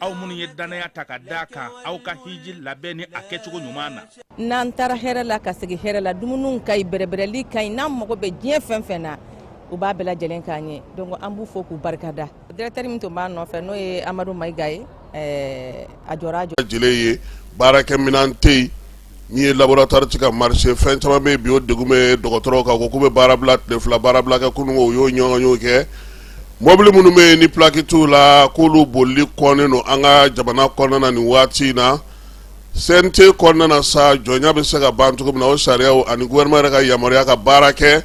aw minnu ye dannaya ta ka da kan aw ka hiji labɛnni a kɛcogo ɲuman na n'an taara hɛrɛ la ka segin hɛrɛ la dumuniw ka ɲi bɛrɛbɛrɛli ka ɲi n'an mago bɛ diɲɛ fɛn fɛn na u b'a bɛɛ lajɛlen k'an ye donc an b'u fo k'u barika da directeur min tun b'a nɔfɛ n'o ye amadu mayiga ye eh, a jɔra a jɔ lajɛlen ye baarakɛminɛn tɛ yen Min ye laboratoire tɛ ka marcher fɛn caman bɛ bi o degun bɛ dɔgɔtɔrɔw kan ko k'u bɛ baara bila tile fila baara bila kɛ kunun u y'o ɲɔgɔn kɛ mɔbili minnu bɛ yen ni plaki t'u la k'olu boli kɔnnen don an ka jamana kɔnɔna na ni waati in na CNT kɔnɔna na sa jɔnya bɛ se ka ban cogo min na o sariyaw ani gouvernement yɛrɛ ka yamaruya ka baara kɛ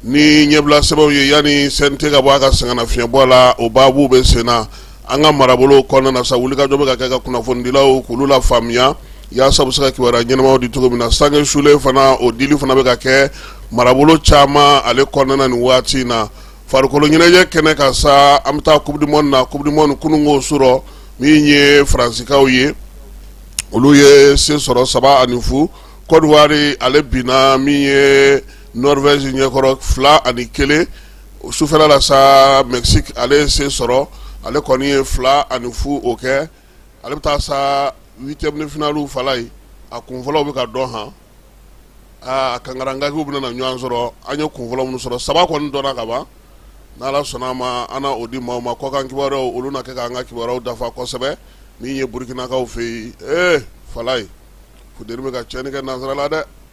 ni ɲɛbilasɛbɛnw ye yanni CNT ka bɔ a ka sɛgɛnnafiɲɛbɔ la o baabu bɛ sen na an ka marabolo kɔnɔna sa wulikajɔ bɛ ka kɛ ka kunnafonidilaw kulu lafaamuya yaasa u bɛ se ka kibaruya ɲɛnamaw di cogo min na sange sulen fana o dili fana bɛ ka kɛ marabolo caman ale kɔnɔna nin waati in na farikolo ɲɛnajɛ kɛnɛ kan sa an bɛ taa coupe du monde na coupe du monde kununko surɔ min ye faransikaw ye olu ye se sɔrɔ saba ani fu Côte d'Ivoire ale binna min ye Norvège ɲɛkɔrɔ fila ani kelen o sufɛla la sa Mexique ale ye se sɔrɔ ale kɔni ye 2 ani 0 o kɛ ale bɛ taa sa 8 ème de finale falayi a kun fɔlɔw bɛ ka dɔn han aa kankarankagiw bɛna na ɲɔgɔn sɔrɔ an ye kun fɔlɔ minnu sɔrɔ saba kɔni dɔnna ka ban n'Ala sɔnna a ma an na o di maaw ma kɔkan kibaruyaw olu na kɛ k'an ka kibaruyaw dafa kosɛbɛ min ye Burkinakaw fɛ yen ee falayi funteni bɛ ka tiɲɛni kɛ nansarala dɛ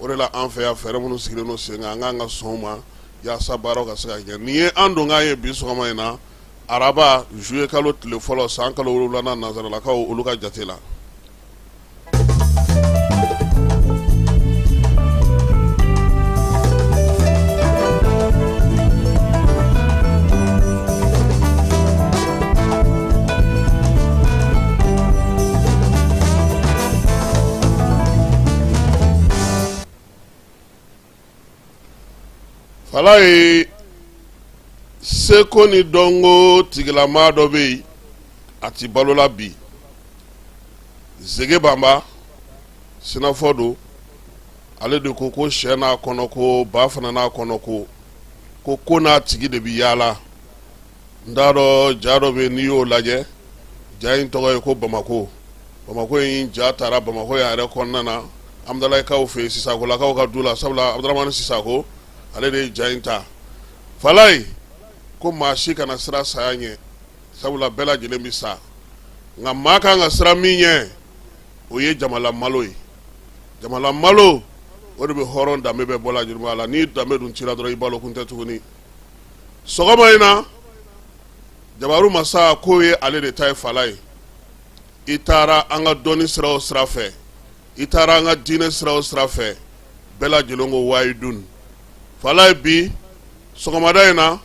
o de la an fɛ yan fɛɛrɛ minnu sigilen don sen kan an k'an ka sɔn o ma yaasa baaraw ka se ka kɛ nin ye an donkan ye bi sɔgɔma in na araba juillet kalo tile fɔlɔ san kalo wolonwulanan nansaralakaw olu ka jate la Falayi seko ni dɔnko tigilama dɔ bɛ yen a tɛ balo la bi Zege Banba sinafɔ don ale de ko ko syɛ n'a kɔnɔko ba fana n'a kɔnɔko ko ko n'a tigi de bɛ yaala n t'a dɔn ja dɔ bɛ n'i y'o lajɛ ja in tɔgɔ ye ko bamakɔ bamakɔ in ja taara bamakɔ yan yɛrɛ kɔnɔna na Hamdalayikaw fɛ yen Sisakolakaw ka du la sabula Abdrahamani Sisako ale de ye ja in ta falayi ko maa si kana siran saya ɲɛ sabula bɛɛ lajɛlen bɛ sa nka maa ka kan ka siran min ɲɛ o ye jamala malo ye jamala malo o de bɛ hɔrɔn danbe bɛɛ bɔ a la juguman na ni danbe dun tira dɔrɔn i balo kun tɛ tuguni sɔgɔma in na jabaru masa ko ye ale de ta ye Falaye i taara an ka dɔnni sira o sira fɛ i taara an ka diinɛ sira o sira fɛ bɛɛ lajɛlen ko wahidun Falaye bi sɔgɔmada in na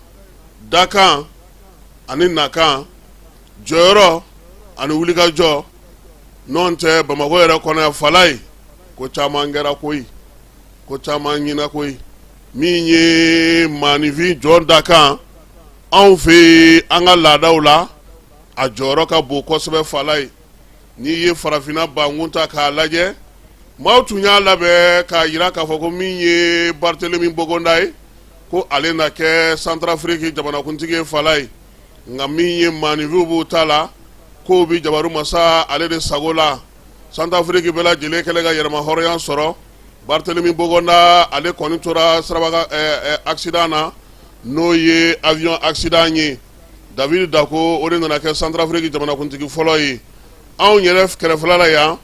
dakan ani nakan jɔyɔrɔ ani wulikajɔ n'o tɛ bamakɔ yɛrɛ kɔnɔ yan Falaye ko caman kɛra koyi ko caman ɲɛna koyi min ye maaninfin jɔn dakan anw fɛ yen an ka laadaw la a jɔyɔrɔ ka bon kosɛbɛ Falaye n'i ye farafinna bankun ta k'a lajɛ maaw tun y'a labɛn k'a jira k'a fɔ ko min ye Barthelemy Bogonda ye ko ale na kɛ Santrafiriki jamanakuntigi ye Falaye nka min ye maaninfinw b'u ta la ko bɛ jabaru masa ale de sago la Santrafiriki bɛɛ lajɛlen kɛlen ka yɛrɛmahɔrɔnya sɔrɔ Barthelemy Bogonda ale kɔni tora siraba kan ɛɛ accident na n'o ye avion accident ye David Dacko o de nana kɛ Santrafiriki jamanakuntigi fɔlɔ ye anw yɛrɛ kɛrɛfɛla la yan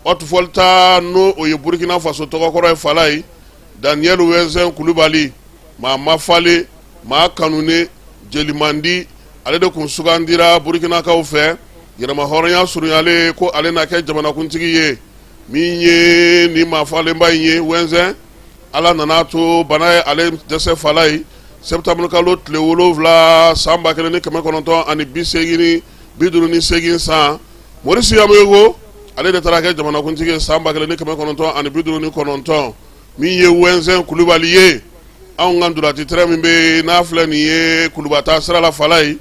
Haute Volta n'o o ye Burkina Faso tɔgɔkɔrɔ ye Falaye Daniel Wɛnzɛn Kulibali maa mafalen maa kanunen jeli mandi ale de tun sugandira burikinakaw fɛ yɛrɛmahɔrɔnya surunyalen ko ale na kɛ jamanakuntigi ye min ye nin mafalenba in ye Wɛnzɛn ala nan'a to bana ye ale dɛsɛ Falaye septembre kalo tile wolonwula san ba kelen ni kɛmɛ kɔnɔntɔn ani bi seegin bi duuru ni seegin san Maurice Yameogo ale de taara kɛ jamanakuntigi ye san ba kelen ni kɛmɛ kɔnɔntɔn ani bi duuru ni kɔnɔntɔn min ye Wɛnzɛn kulubali ye anw ka duratitɛrɛ min bɛ n'a filɛ nin ye kulubataa sira la Falaye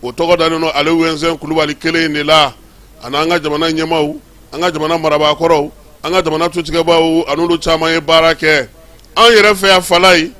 o tɔgɔ dalen don ale Wɛnzɛn kulubali kelen in de la ani an ka jamana ɲɛmaw an ka jamana marabaakɔrɔw an ka jamana tutigɛbaw ani olu caman ye baara kɛ an yɛrɛ fɛ yan Falaye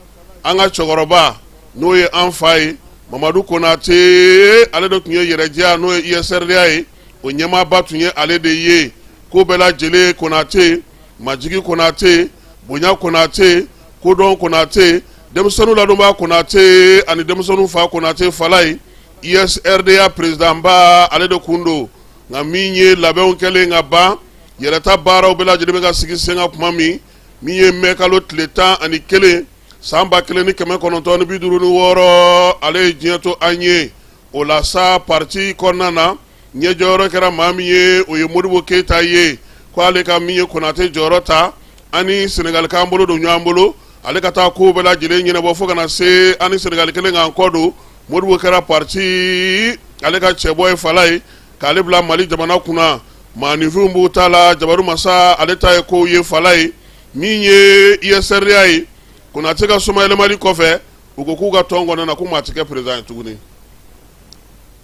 an ka cɛkɔrɔba n'o ye an fa ye mamadu konatɛ ale de tun ye RDA n'o ye US-RDA ye o ɲɛmaaba tun ye ale de ye ko bɛɛ lajɛlen konatɛ majigin konatɛ bonya konatɛ kodɔn konatɛ denmisɛnninw ladonba konatɛ ani denmisɛnninw fa konatɛ Falaye US-RDA perezidanba ale de tun don nka min ye labɛnw kɛlen ka ban yɛrɛta baaraw bɛɛ lajɛlen bɛ ka sigi sen kan tuma min min ye mɛ kalo tile tan ani kelen san ba kelen ni kɛmɛ kɔnɔntɔn ni bi duuru ni wɔɔrɔ ale ye diɲɛ to an ye o la sa pati kɔnɔna na ɲɛ jɔyɔrɔ kɛra maa min ye o ye modibo keyita ye k' ale ka min ye konatɛ jɔyɔrɔ ta an ni sɛnɛgali k'an bolo don ɲɔgɔn bolo ale ka taa ko bɛɛ lajɛlen ɲɛnabɔ fo ka na se an ni sɛnɛgali kɛlen k'an kɔ don modibo kɛra pati ale ka cɛbɔ ye falayi k'ale bila mali jamana kunna maaninfinw b'u ta la jabaru masa ale ta ye ko ye falayi min ye USRDA ye konatɛ ka somayɛlɛmali kɔfɛ u ko k'u ka tɔn kɔnɔna na ko maa tɛ kɛ perezidan ye tuguni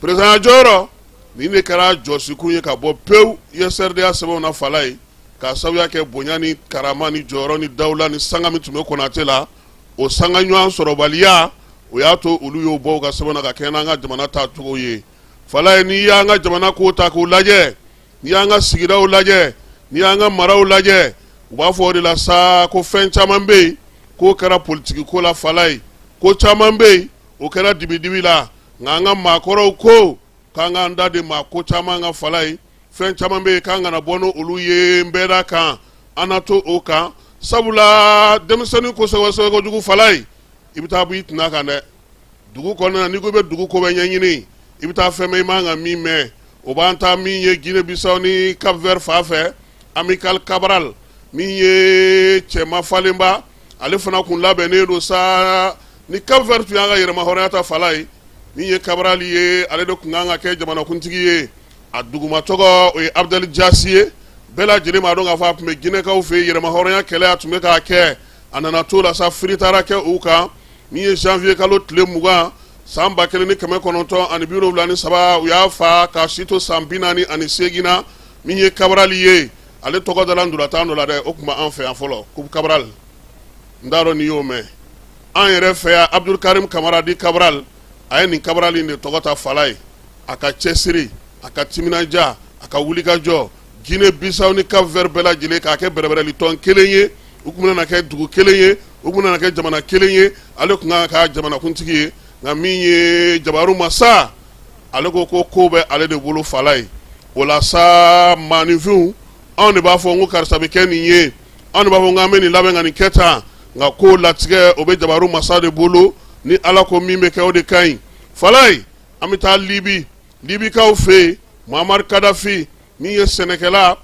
perezidanya jɔyɔrɔ nin de kɛra jɔsikun ye ka bɔ pewu USRDA sɛbɛnw na falayi k'a sababuya kɛ bonya ni karama ni jɔyɔrɔ ni dawula ni sanga min tun bɛ konatɛ la o sanga ɲɔgɔn sɔrɔbaliya o y'a to olu y'o bɔ u ka sɛbɛnw na ka kɛɲɛ n'an ka jamana taacogo ye falayi n'i y'an ka jamana ko ta k'o lajɛ n'i y'an ka sigidaw lajɛ n'i y'an ka maraw lajɛ u b'a fɔ o de la sa ko fɛn caman bɛ yen k'o kɛra politigi ko la falayi ko caman bɛ yen o kɛra dibidibi la nka an ka maakɔrɔw ko k'an k'an da de maa ko caman ka falayi fɛn caman bɛ yen k'an kana bɔ n' olu ye n bɛɛ da kan an na to o kan sabula denmisɛnnin ko sɛgɛsɛgɛ kojugu falayi i bɛ taa bɔ i tana kan dɛ dugu kɔnɔna n'i ko i bɛ dugu ko bɛɛ ɲɛɲini i bɛ taa fɛn mɛn i man kan ka min mɛn o b'an taa min ye guinee bissau ni cap vert fan fɛ amical cabral min ye cɛma falenba ale fana kun labɛnnen don sa ni cap vert tun y'a ka yɛrɛmahɔrɔnya ta falayi min ye kabarali ye ale de tun kan ka kɛ jamanakuntigi ye a duguma tɔgɔ o ye abdɛl jasi ye bɛɛ lajɛlen m'a dɔn k'a fɔ a tun bɛ jinɛkaw fɛ yen yɛrɛmahɔrɔnya kɛlɛ a tun bɛ k'a kɛ a nana t'o la sa firi taara kɛ u kan min ye zanwiye kalo tile mugan san ba kelen ni kɛmɛ kɔnɔntɔn ani biwolonwula ni saba u y'a fa k'a si to san bi naani ani seegin na min ye kabarali ye ale tɔgɔ dara ntolatan dɔ la dɛ, o tun bɛ an fɛ yan fɔlɔ Coupe Cabral n t'a dɔn n'i y'o mɛn, an yɛrɛ fɛ yan Abudulu Karimu Kamara di Cabral a ye nin Cabral in de tɔgɔ ta falayi, a ka cɛsiri, a ka timinandiya, a ka wulikajɔ Guinee Bissau ni Cap Vert bɛɛ lajɛlen k'a kɛ bɛrɛbɛrɛli tɔn kelen ye, u tun bɛna na kɛ dugu kelen ye, u tun bɛna na kɛ jamana kelen ye, ale tun ka kan ka kɛ a jamanakuntigi ye nka min ye Jabaru Masa! ale ko ko ko bɛ ale de bolo falayi o la sa maaninfinw anw de b'a fɔ ko karisa bɛ kɛ nin ye anw de b'a fɔ k'an bɛ nin labɛn ka nin kɛ tan nka ko latigɛ o bɛ jabaru masa de bolo ni ala ko min bɛ kɛ o de ka ɲi falayi an bɛ taa libi libikaw fɛ yen muamari kadafi min ye sɛnɛkɛla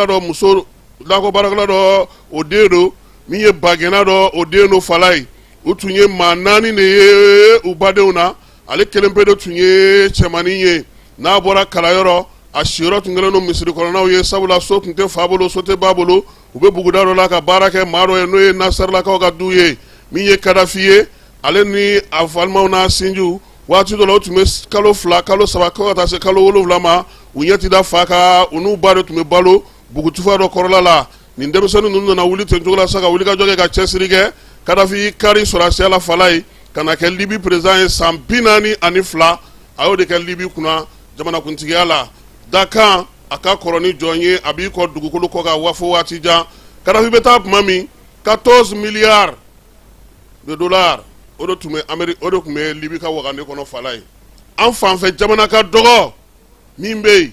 dɔ muso nakɔ baarakɛla dɔ o den don min ye bagɛnna dɔ o den don falayi u tun ye maa naani de ye u badenw na ale kelen pe de tun ye cɛmannin ye n'a bɔra kalanyɔrɔ a siyɔrɔ tun kɛlen don misiri kɔnɔnaw ye sabula so tun tɛ fa bolo so tɛ ba bolo u bɛ buguda dɔ la ka baara kɛ maa dɔ ye n'o ye nasɛrilakaw ka du ye min ye kadafi ye ale ni a balimaw n'a sinjiw waati dɔ la u tun bɛ kalo fila kalo saba fo ka taa se kalo wolonwula ma u ɲɛ ti da fa kan u n'u ba de tun bɛ balo bugutufa dɔ kɔrɔla la nin denmisɛnnin ninnu nana wuli ten cogo la sa ka wuli ka jɔ kɛ ka cɛsiri kɛ kadafi kari sɔrɔsiya la falayi ka na kɛ libi perezidan ye san bi naani ani fila a y'o de kɛ libi kunna jamanakuntigiya la dakan a ka kɔrɔ ni jɔn ye a b'i kɔn dugukolo kɔ kan wa fo waati jan kadafi bɛ taa tuma min 14 miliyari dolari o de n'o de tun bɛ libi ka wagande kɔnɔ falayi an fanfɛ jamana ka dɔgɔ min bɛ yen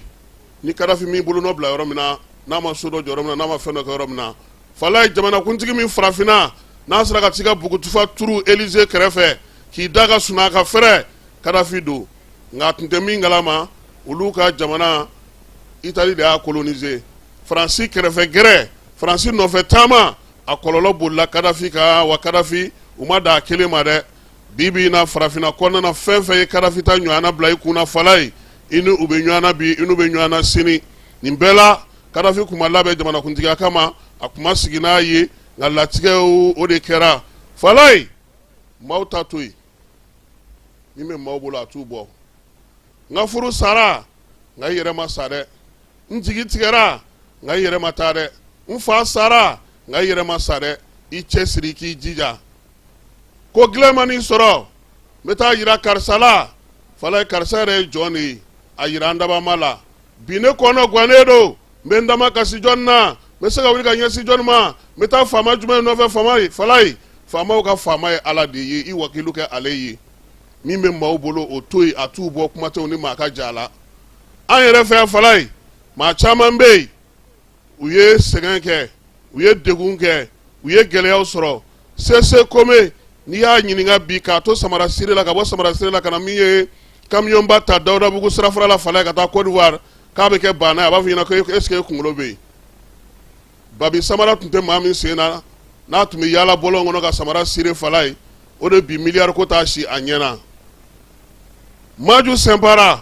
ni kadafi m'i bolonɔ bila yɔrɔ min na n'a ma so dɔ jɔ yɔrɔ min na n'a ma fɛn dɔ kɛ yɔrɔ min na falayi jamanakuntigi min farafinna n'a sera ka t'i ka bugutufa turu elize kɛrɛfɛ k'i da ka sunɔgɔ ka fɛrɛ kadafi don nka a tun tɛ min kalama olu ka jamana itali de y'a kolonise faransi kɛrɛfɛ gɛrɛ faransi nɔfɛ taama a kɔlɔlɔ bolila kadafi kan wa kadafi o ma dan a kelen ma dɛ bi bi na farafinna kɔnɔna fɛn fɛn ye kadafi ta ɲɔgɔnna bila i kun na falayi i ni u bɛ ɲɔgɔn na bi i n'u bɛ ɲɔgɔn na sini nin bɛɛ la kadafi tun ma labɛn jamanakuntigiya kama a tun ma sigi n'a ye nka latigɛ o de kɛra falayi maaw ta to yen min bɛ maaw bolo a t'u bɔ n ka furu sara nka i yɛrɛ ma sa dɛ n jigi tigɛra nka i yɛrɛ ma taa dɛ n fa sara nka i yɛrɛ ma sa dɛ i cɛsiri k'i jija ko gɛlɛn man'i sɔrɔ n bɛ t'a yira karisa la falayi karisa yɛrɛ ye jɔn de ye a yira an dabaa ma la bi ne kɔnɔ gannen don n bɛ n da makasi jɔni na n bɛ se ka wuli ka ɲɛsin jɔni ma n bɛ taa faama jumɛn nɔfɛ faama ye falayi faamaw ka faama ye ala de ye i wakilu kɛ ale ye min bɛ maaw bolo o to yen a t'u bɔ kuma tɛ u ni maa ka ja la an yɛrɛ fɛ yan falayi maa caman bɛ yen u ye sɛgɛn kɛ u ye degun kɛ u ye gɛlɛyaw sɔrɔ sese kome n'i y'a ɲininka bi k'a to samara sire la ka bɔ samara sire la ka na min ye kamiyonba ta dawudabugu sirafara la falayi ka taa kɔdiwari k'a bɛ kɛ baana ye a b'a fɔ i ɲɛ na ko ɛsike e kunkolo bɛ yen babi samara tun tɛ maa min sen na n'a tun bɛ yaala bɔlɔn kɔnɔ ka samara sire falayi o de bi miliyari ko t'a si a ɲɛ na maju sinpara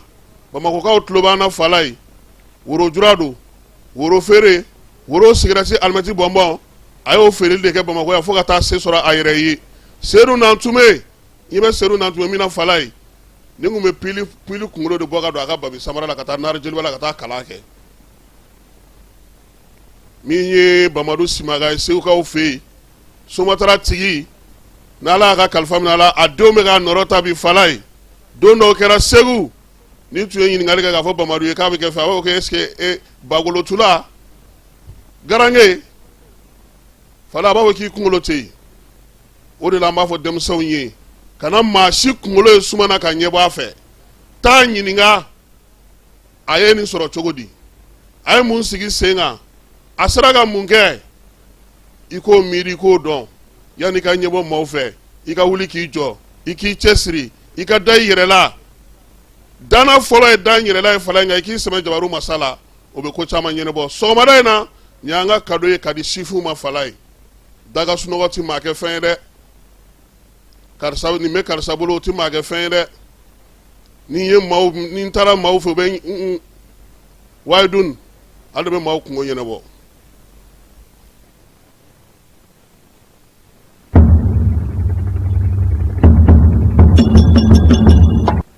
bamakɔkaw tulo b'an na falayi worojula don woro feere woro sigarɛti alimɛti bɔnbɔn a y'o feere de kɛ bamakɔ yan fo ka taa se sɔrɔ a yɛrɛ ye seyidu nantumɛ i bɛ seyidu nantumɛ min na falayi ni tun bɛ pili kunkolo de bɔ ka don a ka babi samara la ka taa n' jeliba la ka taa kalan kɛ min ye bamadu simaga ye segukaw fɛ yen somatara tigi n' ala y'a ka kalifa minɛ a la a denw bɛ k'a nɔrɔ ta bi falaye don dɔw kɛra segu ni tun ye ɲininkali kɛ k'a fɔ bamadu ye k'a bɛ kɛ fɛ a b'a fɔ ko est-ce que bakolotula garange falaye a b'a fɔ k'i kunkolo tɛ yen o de la an b'a fɔ denmisɛnw ye kana maa si kunkolo ye suma na ka ɲɛ bɔ a fɛ taa ɲininka a ye nin sɔrɔ cogo di a ye mun sigi sen kan a sera ka mun kɛ i k'o miiri i k'o dɔn yanni i ka ɲɛbɔ maaw fɛ i ka wuli k'i jɔ i k'i cɛ siri i ka da i yɛrɛ la dana fɔlɔ ye da n yɛrɛ la ye falaye nka i k'i sɛmɛ jabaru masa la o bɛ ko caman ɲɛnabɔ sɔgɔmada in na nin y'an ka kado ye ka di sifuw ma falaye daga sunɔgɔ ti maa kɛ fɛn ye dɛ karisa nin bɛ karisa bolo o ti maa kɛ fɛn ye dɛ ni n ye maaw ni n taara maaw fɛ u bɛ n wayi dun ala de bɛ maaw kunko ɲɛnabɔ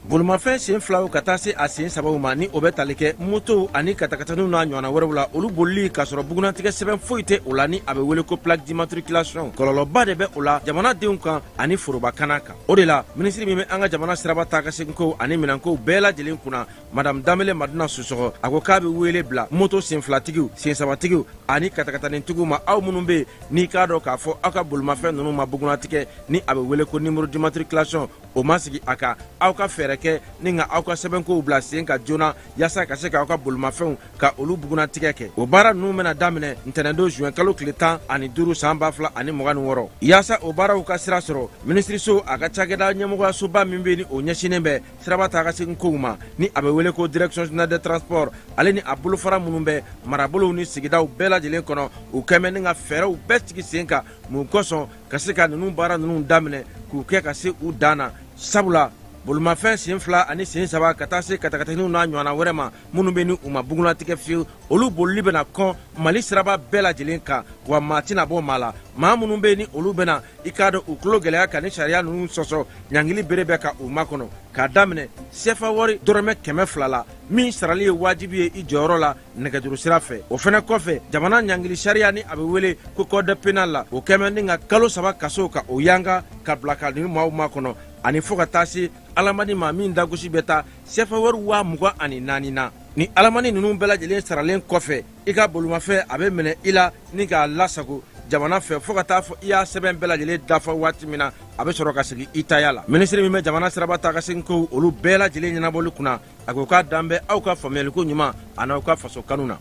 bolimafɛn sen filaw ka taa se a sen sabaw ma ni o bɛ tali kɛ motow ani katakataniw n'a ɲɔgɔnna wɛrɛw la olu bolili k'a sɔrɔ bugunnatigɛ sɛbɛn foyi tɛ o la ni a bɛ wele ko plaque d'immatriculation kɔlɔlɔba de bɛ o la jamanadenw kan ani foroba kana kan o de la minisiri min bɛ an ka jamana siraba taa ka seginkow ani minɛnkow bɛɛ lajɛlen kunna madame danbele madina sisɔkɔ a ko k'a bɛ wele bila moto sen filatigiw sen sabatigiw ani katakatanitigiw ma aw minnu bɛ yen n'i k'a dɔn k'a fɔ aw ka bolimafɛn ninnu ma bugunnatigɛ ni a bɛ wele ko numéro d'immatriculation o ma sigi a kan aw ka fɛɛrɛ kɛ ni ka aw ka sɛbɛnkow bila sen kan joona yaasa ka se k'aw ka bolimafɛnw ka olu bugunnatigɛ kɛ o baara ninnu bɛna daminɛ ntɛnɛndon zuwɛn kalo tile tan ani duuru san ba fila ani mugan ni wɔɔrɔ yaasa o baaraw ka sira sɔrɔ minisiriso a ka cakɛda ɲɛmɔgɔyasoba min bɛ ni o ɲɛsinnen bɛ siraba taa ka segin kow ma ni a bɛ wele ko direction générale des transports ale ni a bolofara minnu bɛ marabolow ni sigidaw bɛɛ lajɛlen kɔnɔ u kɛmɛ ni ka fɛɛrɛw bɛɛ sigi sen kan mun kosɔn ka se ka ninnu baara ninnu daminɛ k'u kɛ ka se u dan na sabula bolimafɛn sen fila ani sen saba ka taa se katakataniw n'a ɲɔgɔnna wɛrɛ ma minnu bɛ ni u ma bugunnatigɛ fiyewu olu bolili bɛna kɔn mali siraba bɛɛ lajɛlen kan wa maa tɛna bɔ maa la maa minnu bɛ ni olu bɛna i k'a dɔn u tulo gɛlɛya ka ni sariya ninnu sɔsɔ ɲangili bere bɛ ka u makɔnɔ k'a daminɛ sefa wari dɔrɔmɛ kɛmɛ fila la min sarali ye wajibi ye i jɔyɔrɔ la nɛgɛjuru sira fɛ o fɛnɛ kɔfɛ jamana ɲangili sariya ni a bɛ wele ko code pénal la o kɛmɛ ni ka kalo saba kaso ka o yanga ka bila ka ni maaw makɔnɔ ani fo ka taa se alamani ma min dagosi bɛ taa sefa wari waa mugan ani naani na ni alamani ninnu bɛɛ lajɛlen saralen kɔfɛ i ka bolimafɛn a bɛ minɛ i la ni k'a lasago jamana fɛ fɔɔ ka taa fɔ i y'a sɛbɛn bɛɛ lajɛlen dafa waati min na a bɛ sɔrɔ ka segin i taya la minisiri min bɛ jamana siraba taa ka segin kow olu bɛɛ lajɛlen ɲɛnabɔli kunna a ko k'a dan bɛ aw ka faamuyaliko ɲuman an'aw ka faso kanu na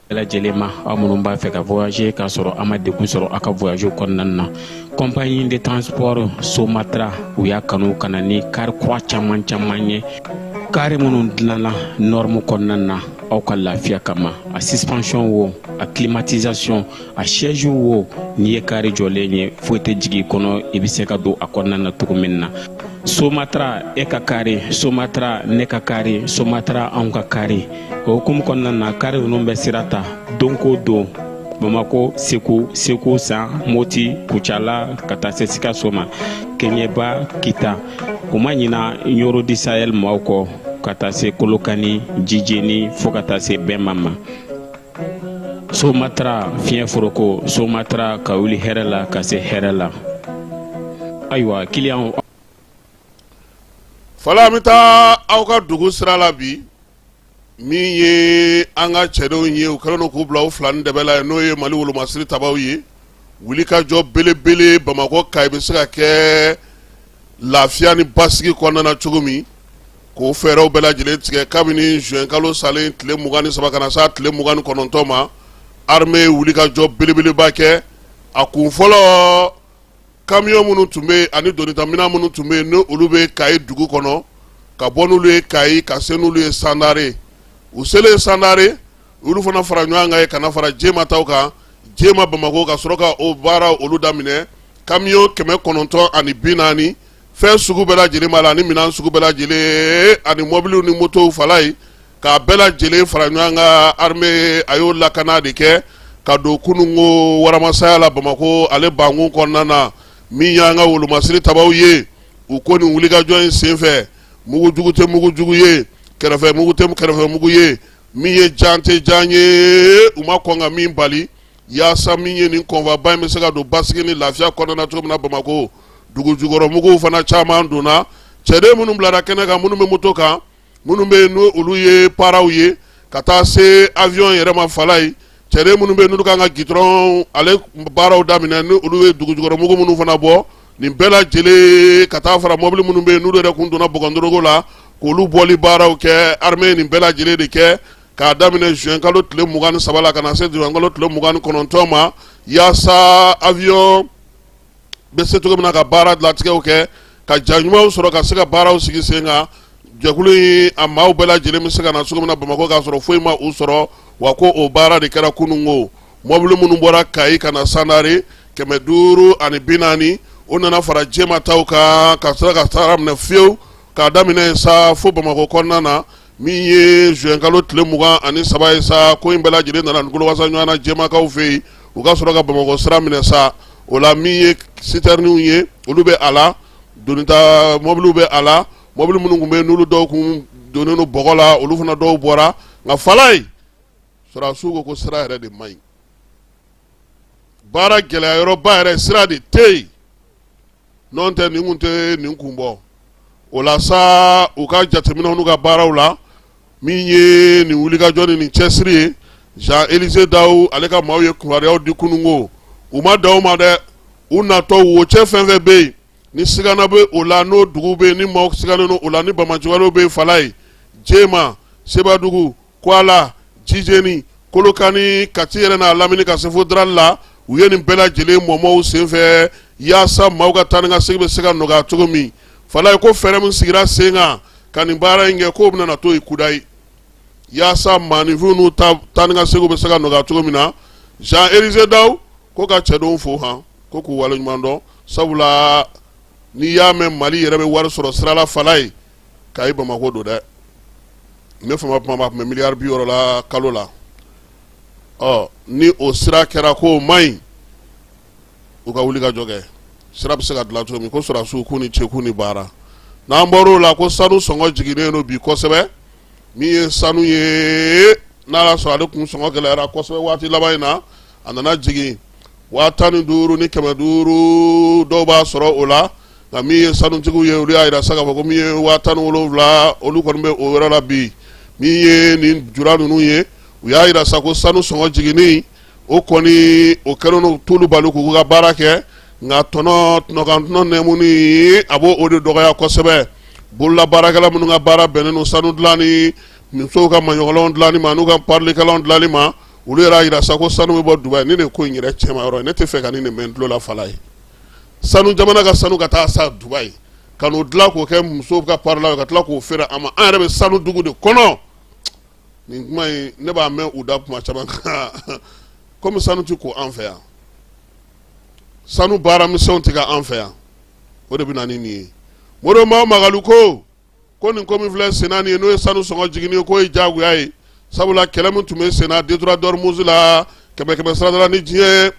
bɛɛ lajɛlen ma aw minnu b'a fɛ ka voyager k'a sɔrɔ a ma degun sɔrɔ a ka voyage kɔnɔna na compagnie de transport somatra u y'a kanu ka na ni kari kura caman caman ye kari minnu dilanna norme kɔnɔna na aw ka lafiya kama a suspension wo a climatisation a siège wo n'i ye kari jɔlen ye foyi tɛ jigin kɔnɔ i bɛ se ka don a kɔnɔna na cogo min na somatra e ka kari somatra ne ka kari somatra anw ka kari o hukumu kɔnɔna na kari ninnu bɛ sira ta don ko don bamako segu segu san moti kucala ka taa se sikaso ma keɲeba kita u ma ɲina ɲɔrɔ di sahɛl maaw kɔ ka taa se kolokani jijeni fɔɔ ka taa se bɛma ma somatra fiɲɛ foroko somatra ka wuli hɛrɛ la ka se hɛrɛ la ayiwa kiliyanw fɔlɔ an bɛ taa aw ka dugu sira la bi min ye an ka cɛdenw ye u kɛlen don k'u bila u fila ni dɛbɛ la n'o ye mali wolomasiri tabaw ye wulikajɔ belebele bamakɔ kayi bɛ se ka kɛ lafiya ni basigi kɔnɔna na cogo min K'o fɛɛrɛw bɛɛ lajɛlen tigɛ kabini juin kalo salen tile 23 ka na se a tile 29 ma, armée ye wulikajɔ belebeleba kɛ, a kun fɔlɔ camions minnu tun bɛ yen ani donita minɛn minnu tun bɛ yen ni olu bɛ Kayi dugu kɔnɔ, ka bɔ n'olu ye Kayi ka se n'olu ye Sandare, u selen Sandare, u y'olu fana fara ɲɔgɔn kan yen ka na fara Jema taw kan, Jema Bamakɔ ka sɔrɔ ka o baara olu daminɛ, camions 940 fɛn sugu bɛɛ lajɛlen b'a la ani minɛn sugu bɛɛ lajɛlen ani mɔbiliw ni motow fala ye k'a bɛɛ lajɛlen fara ɲɔgɔn kan armée a y'o lakana de kɛ ka don kununko waramasaya la Bamakɔ ale bankun kɔnɔna na min y'an ka wolomasiri tabaw ye u ko nin wulikajɔ in senfɛ mugu jugu tɛ mugu jugu ye kɛrɛfɛ mugu tɛ kɛrɛfɛ mugu ye min ye jan tɛ jan ye u ma kɔn ka min bali Yaasa min ye nin convoi ba in bɛ se ka don basigi ni lafiya kɔnɔna cogo min na bamakɔ dugujukɔrɔmuguw fana caman donna cɛden minnu bilara kɛnɛ kan minnu bɛ moto kan minnu bɛ yen n'olu ye paraw ye ka taa se awiyɔn yɛrɛ ma fala ye cɛden minnu bɛ n'olu kan ka jigin dɔrɔn ale baaraw daminɛ ni olu ye dugujukɔrɔmugu minnu fana bɔ nin bɛɛ lajɛlen ka taa fara mɔbili minnu bɛ yen n'olu yɛrɛ kun donna bɔgɔndorogo la k'olu bɔli baaraw kɛ armée nin bɛɛ lajɛlen de kɛ k'a daminɛ juin kalo tile mugan ni saba la ka na se juin kalo tile mugan ni kɔnɔntɔn ma yaasa avion bɛ se cogo min na ka baara latigɛw kɛ ka ja ɲumanw sɔrɔ ka se ka baaraw sigi sen kan jɛkulu in a maaw bɛɛ lajɛlen bɛ se ka na cogo min na bamakɔ k'a sɔrɔ foyi ma u sɔrɔ wa ko o baara de kɛra kunun ko mɔbili minnu bɔra kayi ka na sandare kɛmɛ duuru ani bi naani o nana fara jɛma taw kan ka sɔrɔ ka sira minɛ fiyewu k'a daminɛ sa fo bamakɔ kɔnɔna na min ye juin kalo tile mugan ani saba ye sa ko in bɛɛ lajɛlen nana nkolowasa ɲɔgɔnna jɛmakaw fɛ yen u ka sɔrɔ ka bamakɔ sira minɛ sa o la min ye sitɛriniw ye olu bɛ a la donita mɔbiliw bɛ a la mɔbili minnu tun bɛ n'olu dɔw kun donnen don bɔgɔ la olu fana dɔw bɔra nka Falaye sɔrɔdasiw ko ko sira yɛrɛ de man ɲi baara gɛlɛya yɔrɔba yɛrɛ sira de tɛ yen n'o tɛ nin kun tɛ nin kun bɔ o la sa u ka jateminɛw n'u ka baaraw la min ye nin wulikajɔ ni nin cɛsiri ye Jean Elise Dawu ale ka maaw ye kibaruyaw di kununko u ma dan o ma dɛ u natɔ wocɛ fɛn fɛn bɛ yen ni sigana bɛ o la n'o dugu bɛ yen ni maaw sigannen don o la ni bamajigaliw bɛ yen Falaye Jema Sebadugu Kuala, Jijeni, Kolokani, Kati yɛrɛ n'a lamini ka se fo Daral la, u ye nin bɛɛ lajɛlen mɔmɔ u senfɛ yaasa maaw ka taa ni ka segin bɛ se ka nɔgɔya cogo min. Falaye ko fɛɛrɛ min sigira sen kan ka nin baara in kɛ k'o bɛna na to yen kudayi yaasa maaninfinw n'u ta taa ni ka segin bɛ se ka nɔgɔya cogo min na. Jean Elise Dawu ko ka cɛdenw fo han ko k'u waleɲuman dɔn sabula n'i y'a mɛn Mali yɛrɛ bɛ wari sɔrɔ sira la Falaye kayi bamakɔ don dɛ ne fama kuma b'a tun bɛ miliyari bi wɔɔrɔ la kalo la ɔ ni o sira kɛra ko o man ɲi u ka wuli ka jɔ kɛ sira bɛ se ka dilan cogo min ko sɔrɔdasiw k'u ni ce k'u ni baara n'an bɔra o la ko sanu sɔngɔ jiginnen don bi kosɛbɛ min ye sanu ye n'a y'a sɔrɔ ale kun sɔngɔ gɛlɛyara kosɛbɛ waati laban in na a nana jigin waa tan ni duuru ni kɛmɛ duuru dɔw b'a sɔrɔ o la nka min ye sanutigiw ye olu y'a jira sa k'a fɔ ko min ye waa tan ni wolonwula olu kɔni bɛ o yɔrɔ la bi min ye nin jura ninnu ye u y'a jira sa ko sanu sɔngɔ jiginni o kɔni o kɛlen don t'olu bali k'u ka baara kɛ nka tɔnɔ tɔnɔkantɔnɔ nɛmuni a b'o o de dɔgɔya kosɛbɛ bolola baarakɛla minnu ka baara bɛnnen don sanu dilanni musow ka maɲɔgɔnlan dilanni ma n'u ka parilikɛlanw dilanni ma olu yɛrɛ y'a jira sa ko sanu bɛ bɔ dubayi nin de ko in yɛrɛ cɛma yɔrɔ ne tɛ fɛ ka nin de mɛn tulo la Falaye sanu jamana ka sanu ka taa sa dubayi ka n'o dilan k'o kɛ musow ka parilan ka tila k'o feere an ma an yɛrɛ bɛ sanu dugu de kɔnɔ nin kuma ne b'a mɛn u da kuma caman kan kɔmi sanu tɛ ko an fɛ yan sanu baaramisɛnw tɛ kɛ an fɛ yan o de bɛ na ni nin ye modibo mao makalu ko ko nin ko min filɛ senna nin ye n'o ye sanu sɔngɔ jiginni ye k'o ye diyagoya ye sabula kɛlɛ min tun bɛ senna détroit d'Ormuz la kɛmɛ kɛmɛ siradala ni diɲɛ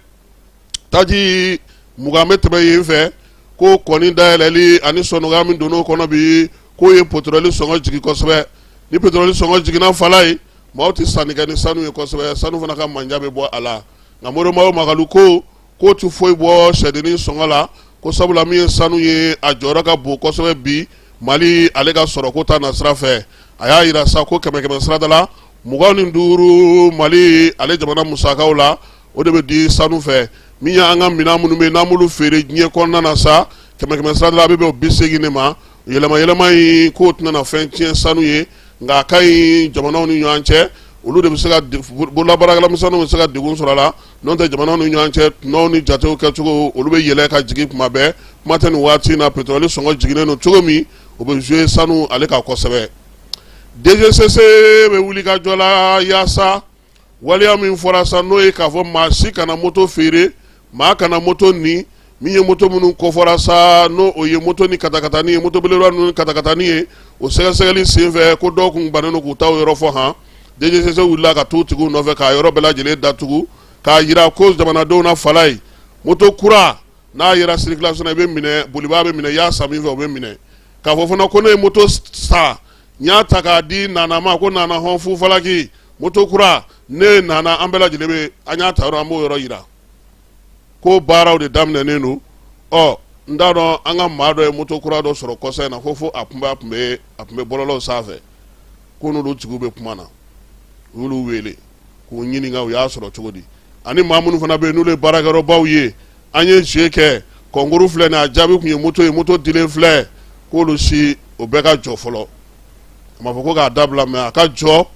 taji mugan bɛ tɛmɛ yen fɛ k'o kɔni dayɛlɛli ani sɔnɔgɔya min donn'o kɔnɔ bi k'o ye petroli sɔngɔ jigin kosɛbɛ ni petroli sɔngɔ jiginna fala ye maaw tɛ sanni kɛ ni sanu ye kosɛbɛ sanu fana ka manja bɛ bɔ a la nka Modibo Mawo Makalu ko k'o tɛ foyi bɔ sɛdennin sɔngɔ la ko sabula min ye sanu ye a jɔyɔrɔ ka bon kosɛbɛ bi mali ale ka sɔrɔko ta nasira fɛ a y'a yira sa ko kɛmɛ kɛmɛ sirada la mugan ni duuru mali ale jamana musakaw la o de bɛ di sanu fɛ min y'an ka minɛn minnu bɛ n'an b'olu feere diɲɛ kɔnɔna na sa kɛmɛ kɛmɛ sirada la a bɛ bɛn o bi seegin de ma yɛlɛma yɛlɛma in k'o tɛna na fɛn tiɲɛ sanu ye nka a ka ɲi jamanaw ni ɲɔgɔn cɛ olu de bɛ se ka bololabaarakɛlamisɛnninw bɛ se ka degun sɔrɔ a la N'o tɛ jamanaw ni ɲɔgɔn cɛ tɔnɔw ni jatew kɛcogo olu bɛ yɛlɛ ka jigin kuma bɛɛ kuma tɛ nin waati in na petroli sɔngɔ jiginnen don cogo min o bɛ jouer sanu ale kan kosɛbɛ DGCC bɛ wulikajɔ la yaasa waleya min fɔra sa n'o ye k'a fɔ maa si kana moto feere maa kana moto nin min ye moto minnu kofɔra sa n'o o ye moto ni katakatani ye moto belebeleba ninnu ni katakatani ye o sɛgɛsɛgɛli senfɛ ko dɔw kun bannen don k'u taw yɔrɔ fɔ han DGCC wulila ka t'u tigiw nɔfɛ k'a yɔrɔ bɛɛ lajɛlen datugu k'a yira ko jamanadenw na fala ye moto kura n'a yera circulation na i bɛ minɛ bolibaa bɛ minɛ i y'a san min fɛ o bɛ minɛ k'a fɔ fana ko ne ye moto san n y'a ta k'a di nana ma ko nana hɔn fu falaki moto kura ne nana an bɛɛ lajɛlen bɛ an y'a ta yɔrɔ an b'o yɔrɔ yira k'o baaraw de daminɛnen don ɔ n t'a dɔn an ka maa dɔ ye moto kura dɔ sɔrɔ kɔsa in na ko fo a tun b'a tun bɛ a tun bɛ bɔlɔlɔw sanfɛ ko n'olu tigiw bɛ kuma na u y'olu wele k'u ɲininka u y'a sɔrɔ cogo di ani maa minnu fana bɛ yen n'olu ye baarakɛyɔrɔbaw ye an ye jeu kɛ concours filɛ nin a jaabi tun ye moto ye moto dilen filɛ k'olu si o bɛɛ ka jɔ fɔlɔ a ma fɔ ko k'a dabila mais a ka jɔ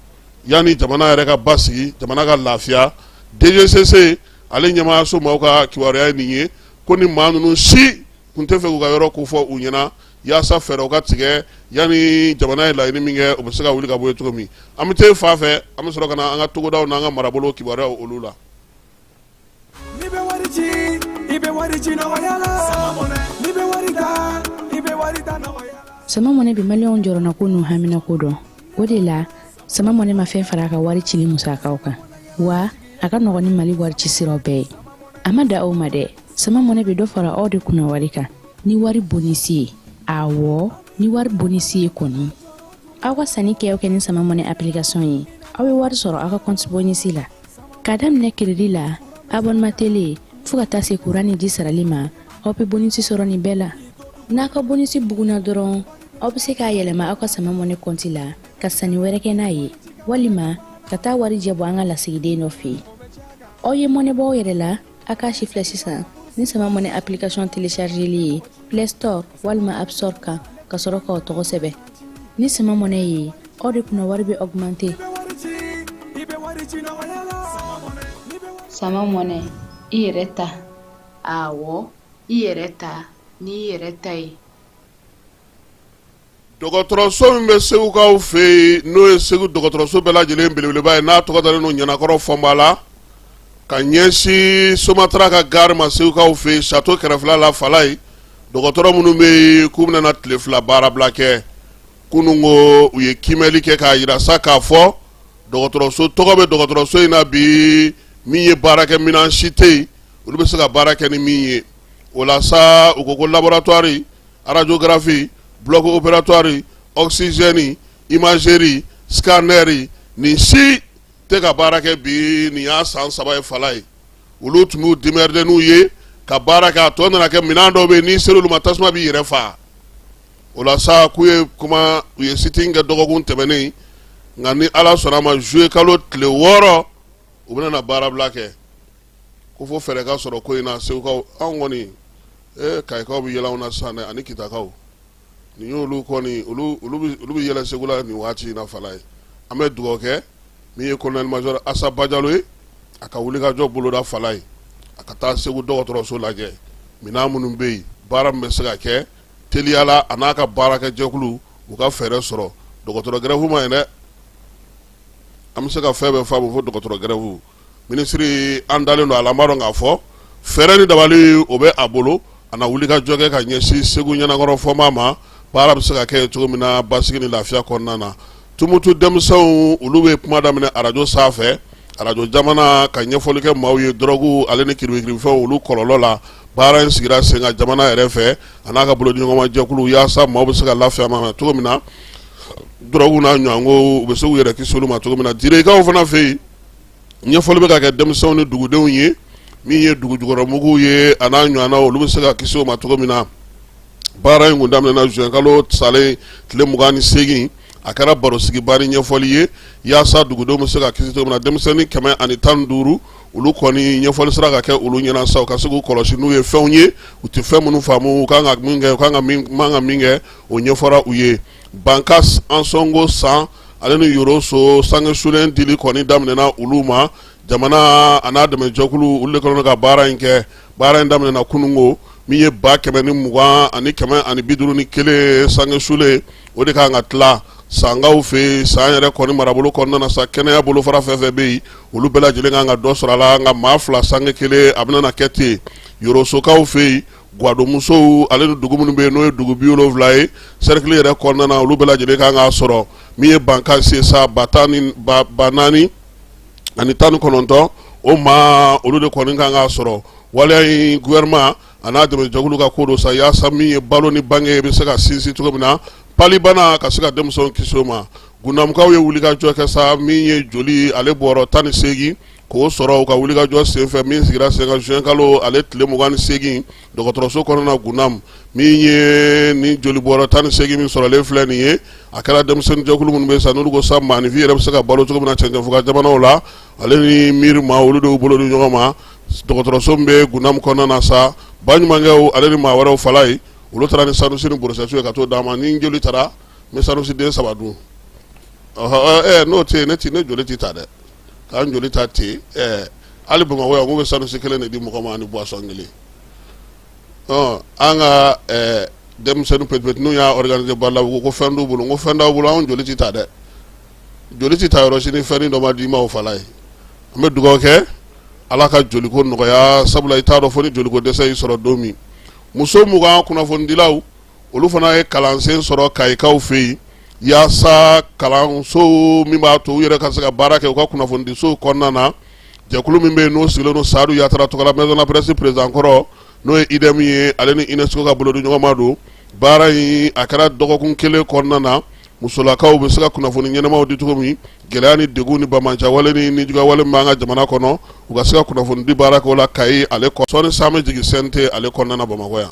yanni jamana yɛrɛ ka basigi jamana ka lafiya DGCC ale ɲɛmaayaso maaw ka kibaruya ye nin ye ko ni maa ninnu si kun tɛ fɛ k'u ka yɔrɔ kofɔ u ɲɛna yaasa fɛɛrɛw ka tigɛ yanni jamana ye laɲini min kɛ o bɛ se ka wuli ka bɔ yen cogo min an bɛ taa fan fɛ an bɛ sɔrɔ ka na an ka togodaw n'an ka marabolo kibaruyaw olu la. n'i bɛ wari ci i bɛ wari ci nɔgɔya la n'i bɛ wari ta i bɛ wari ta nɔgɔya la. Sama Money bi maliyɛnw jɔrɔnako n'u haminako dɔn o de la sama mɔnɛ ma fɛn fara a ka wari cili musakaw kan wa a ka nɔgɔn ni mali wari ci siraw bɛɛ ye a ma da aw ma dɛ sama mɔnɛ bɛ dɔ fara aw de kunna wari kan ni wari bonisi ye awɔ ni wari bonisi ye kɔni aw ka sanni kɛ aw kɛ ni sama mɔnɛ application ye aw bɛ wari sɔrɔ aw ka kɔnti bonisi la ka daminɛ crédit la abonnement télé fo ka taa se kuran ni ji sarali ma aw bɛ bonisi sɔrɔ nin bɛɛ la n'a ka bonisi bugunna dɔrɔn aw bɛ se k'a yɛlɛma aw ka sama mɔnɛ kɔnti la ka sanni wɛrɛ kɛ n'a ye walima ka taa warijɛ bɔ an ka lasigiden dɔ fɛ yen aw ye mɔnɛ bɔ aw yɛrɛ la a k'a sifilɛ sisan ni sama mɔnɛ application téléchargeli ye play store walima app store kan ka sɔrɔ k'aw tɔgɔ sɛbɛn ni sama mɔnɛ ye aw de kunna wari bɛ augmenter sama mɔnɛ i yɛrɛ ta awɔ i yɛrɛ ta n'i yɛrɛ ta ye dɔgɔtɔrɔso min bɛ segukaw fɛ yen n'o ye segu dɔgɔtɔrɔso bɛɛ lajɛlen belebeleba ye n'a tɔgɔ dalen don ɲanankɔrɔ fɔnba la ka ɲɛsin somatara ka gare ma segukaw fɛ yen sato kɛrɛfɛla la fala ye dɔgɔtɔrɔ minnu bɛ yen k'u bɛna na tile fila baarabila kɛ kunun ko u ye kimɛli kɛ k'a yira sa k'a fɔ dɔgɔtɔrɔso tɔgɔ bɛ dɔgɔtɔrɔso in na bi min ye baarakɛminɛn si tɛ yen olu bɛ se ka baara kɛ ni min ye o la sa u ko ko laboratoire radiographie bloc opératoire oxygène imagerie scanneri nin si tɛ ka baara kɛ bi nin y'a san saba ye fala ye olu tun b'u démerder n'u ye ka baara kɛ a tɔ nana kɛ minɛn dɔw bɛ yen n'i ser'olu ma tasuma b'i yɛrɛ faa o la sa k'u ye kuma u ye sit-in kɛ dɔgɔkun tɛmɛnen nka ni ala sɔnna a ma zuye kalo tile wɔɔrɔ u bɛna na baarabila kɛ ko fo fɛɛrɛ ka sɔrɔ ko in na segukaw anw kɔni ee kayikaw bɛ yɛlɛ aw na sisan dɛ ani kitakaw nin y'olu kɔni olu bɛ yɛlɛ segu la nin waati in na fala ye an bɛ dugawu kɛ min ye colonel major asa bajalo ye a ka wulikajɔ boloda fala ye a ka taa segu dɔgɔtɔrɔso lajɛ minɛn minnu bɛ yen baara min bɛ se ka kɛ teliya la a n'a ka baarakɛjɛkulu u ka fɛɛrɛ sɔrɔ dɔgɔtɔrɔ gɛrɛfu man ɲi dɛ an bɛ se ka fɛn bɛɛ faamu fo dɔgɔtɔrɔ gɛrɛfu minisiri an dalen don a la an b'a dɔn k'a fɔ fɛɛrɛ ni dabali o bɛ a bolo a na wulikajɔ kɛ ka ɲɛsin segu ɲanankɔrɔ fɔnba ma baara bɛ se ka kɛ cogo min na basigi ni lafiya kɔnɔna na tumutu denmisɛnw olu bɛ kuma daminɛ arajo sanfɛ arajo jamana ka ɲɛfɔli kɛ maaw ye dɔrɔgu ale ni kiribikiribifɛnw olu kɔlɔlɔ la baara in sigira sen kan jamana yɛrɛ fɛ a n'a ka bolodiɲɔgɔnmajɛkulu yaasa maaw bɛ se ka lafiya ma cogo min na dɔrɔgu n'a ɲɔgɔnko u bɛ se k'u yɛrɛ kisi olu ma cogo min na dikaw fana fɛ yen ɲɛfɔli bɛ ka kɛ denmisɛnw ni dugudenw ye min ye dugujukɔrɔmuguw ye a n'a ɲɔgɔnna olu bɛ se ka kisi o ma cogo min na baara in kun daminɛna juin kalo salen tile mugan ni seegin a kɛra barosigiba ni ɲɛfɔli ye yaasa dugudenw bɛ se ka kisi cogo min na denmisɛnnin kɛmɛ ani tan ni duuru olu kɔni ɲɛfɔli sera ka kɛ olu ɲɛna sa u ka se k'u kɔlɔsi n'u ye fɛnw ye u tɛ fɛn minnu faamu u kan ka min kɛ u kan ka man ka min kɛ o ɲɛfɔra u ye Bankasi ansɔngo san ale ni yoroso sange sulen dili kɔni daminɛna olu ma jamana a n'a dɛmɛjɛkulu olu de kɔnɔ ka baara in kɛ baara in daminɛna kununko min ye ba kɛmɛ ni mugan ani kɛmɛ ani bi duuru ni kelen sange sulen o de kan ka tila sankaw fɛ yen san yɛrɛ kɔni marabolo kɔnɔna na sa kɛnɛya bolofara fɛn fɛn bɛ yen olu bɛɛ lajɛlen kan ka dɔ sɔrɔ a la nka maa fila sange kelen a bɛna na kɛ ten yorosokaw fɛ yen gwadonmusow ale ni dugu minnu bɛ yen n'o ye dugu bi wolonwula ye serikili yɛrɛ kɔnɔna na olu bɛɛ lajɛlen kan k'a sɔrɔ min ye bankasi sa ba tan ni ba naani ani tan ni kɔnɔntɔn o maa olu de kɔni kan k'a sɔrɔ waleya in gouvernement a n'a dɛmɛjɛkulu ka ko don sa yaasa min ye balo ni bange bɛ se ka sinsin cogo min na palibana ka se ka denmisɛnw kisi o ma gunamukaw ye wulikajɔ kɛ sa min ye joli ale bɔrɔ tan ni seegin k'o sɔrɔ u ka wulikajɔ senfɛ min sigira sen kan juin kalo ale tile mugan ni seegin dɔgɔtɔrɔso kɔnɔna gunam min ye ni joli bɔrɔ tan ni seegin min sɔrɔlen filɛ nin ye a kɛra denmisɛnnin jɛkulu minnu bɛ sa n'olu ko sa maaninfin yɛrɛ bɛ se ka balo cogo min na cɛncɛnfuga jamanaw la ale ni miiri ma olu de y'u bolo di ɲɔgɔn ma dɔgɔtɔrɔso min bɛ gunam kɔnɔna na sa baɲumankɛw ale ni maa wɛrɛw fala ye olu taara ni sanusi ni borosɛtiw ye ka t'o d'a ma ni joli tara n bɛ sanusi den saba dun n'o tɛ yen ne ti ne joli tɛ ta dɛ k'an joli ta ten ɛɛ hali bamakɔ yan k'u bɛ sanusi kelen de di mɔgɔ ma ani buwasɔn kelen ɔ an ka ɛɛ denmisɛnnin pɛtipɛti n'u y'a ɔriganize ba la u ko ko fɛn t'u bolo n ko fɛn t'aw bolo anw joli ti ta dɛ joli ti ta yɔrɔ si ni fɛnnin dɔ ma d'i ma o fala ye an bɛ dugawu kɛ ala ka joliko nɔgɔya sabula i t'a dɔn fo ni joliko dɛsɛ y'i sɔrɔ don min muso mugan kunnafonidilaw olu fana ye kalansen sɔrɔ kayikaw fɛ yen yaasa kalanso min b'a to u yɛrɛ ka se ka baara kɛ u ka kunnafonidisow kɔnɔna na jɛkulu min bɛ yen n'o sigilen don sadu yatara tɔgɔla maison de la presse président kɔrɔ n'o ye IDEM ye ale ni UNESCO ka bolodiɲɔgɔnma don baara in a kɛra dɔgɔkun kelen kɔnɔna na musolakaw bɛ se ka kunnafoni ɲɛnamaw di cogo min gɛlɛya ni degun ni banbaanciwale ni nijuguyawale min b'an ka jamana kɔnɔ u ka se ka kunnafoni di baara kɛ o la kayi ale kɔ sɔɔni sa an bɛ jigin CNT ale kɔnɔna bamakɔ yan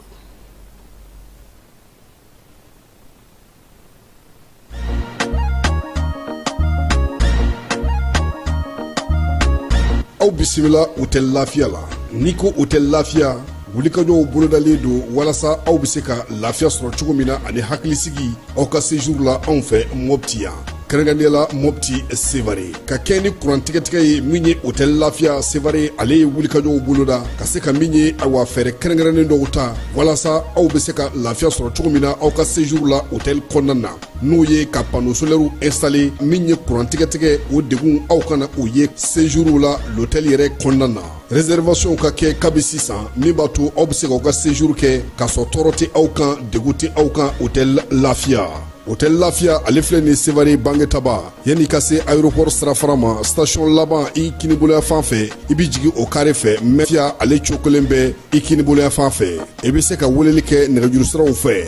aw bisimila hôtel lafiya la n'i ko hôtel lafiya wulikajɔw bolodalen don walasa aw bɛ se ka lafiya sɔrɔ cogo min na ani hakilisigi aw ka séjour la anw fɛ mɔpti yan kɛrɛnkɛrɛnnenya la mɔpti sevare ka kɛɲɛ ni kurantigɛtigɛ ye min ye hôtel lafiya sevare ale ye wulikajɔw boloda ka se ka min ye awa fɛɛrɛ kɛrɛnkɛrɛnnen dɔw ta walasa aw bɛ se ka lafiya sɔrɔ cogo min na aw ka séjour la hôtel kɔnɔna na n'o ye ka panneau solaire installer min ye kurantigɛtigɛ o degun aw kana o ye séjour la l'hôtel yɛrɛ kɔnɔna na Réservation ka kɛ kabi sisan min b'a to aw bɛ se k'aw ka séjour kɛ k'a sɔrɔ tɔɔrɔ tɛ aw kan degun tɛ aw kan hôtel lafiya hôtel lafiya ale filɛ ni sevare bangetaba yanni ka se aéroport sirafara ma station laban i kinibolo yanfan fɛ i bɛ jigin o carré fɛ lafiya ale cokolen bɛ i kinibolo yanfan fɛ i bɛ se ka weleli kɛ nɛgɛjurusiraw fɛ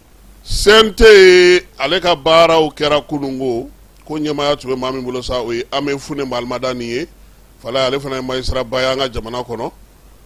CNT ye ale ka baaraw kɛra kununko ko ɲɛmaya tun bɛ maa min bolo sa o ye amɛyi fune maalimadani ye fala ale fana ye magistrat ba ye an ka jamana kɔnɔ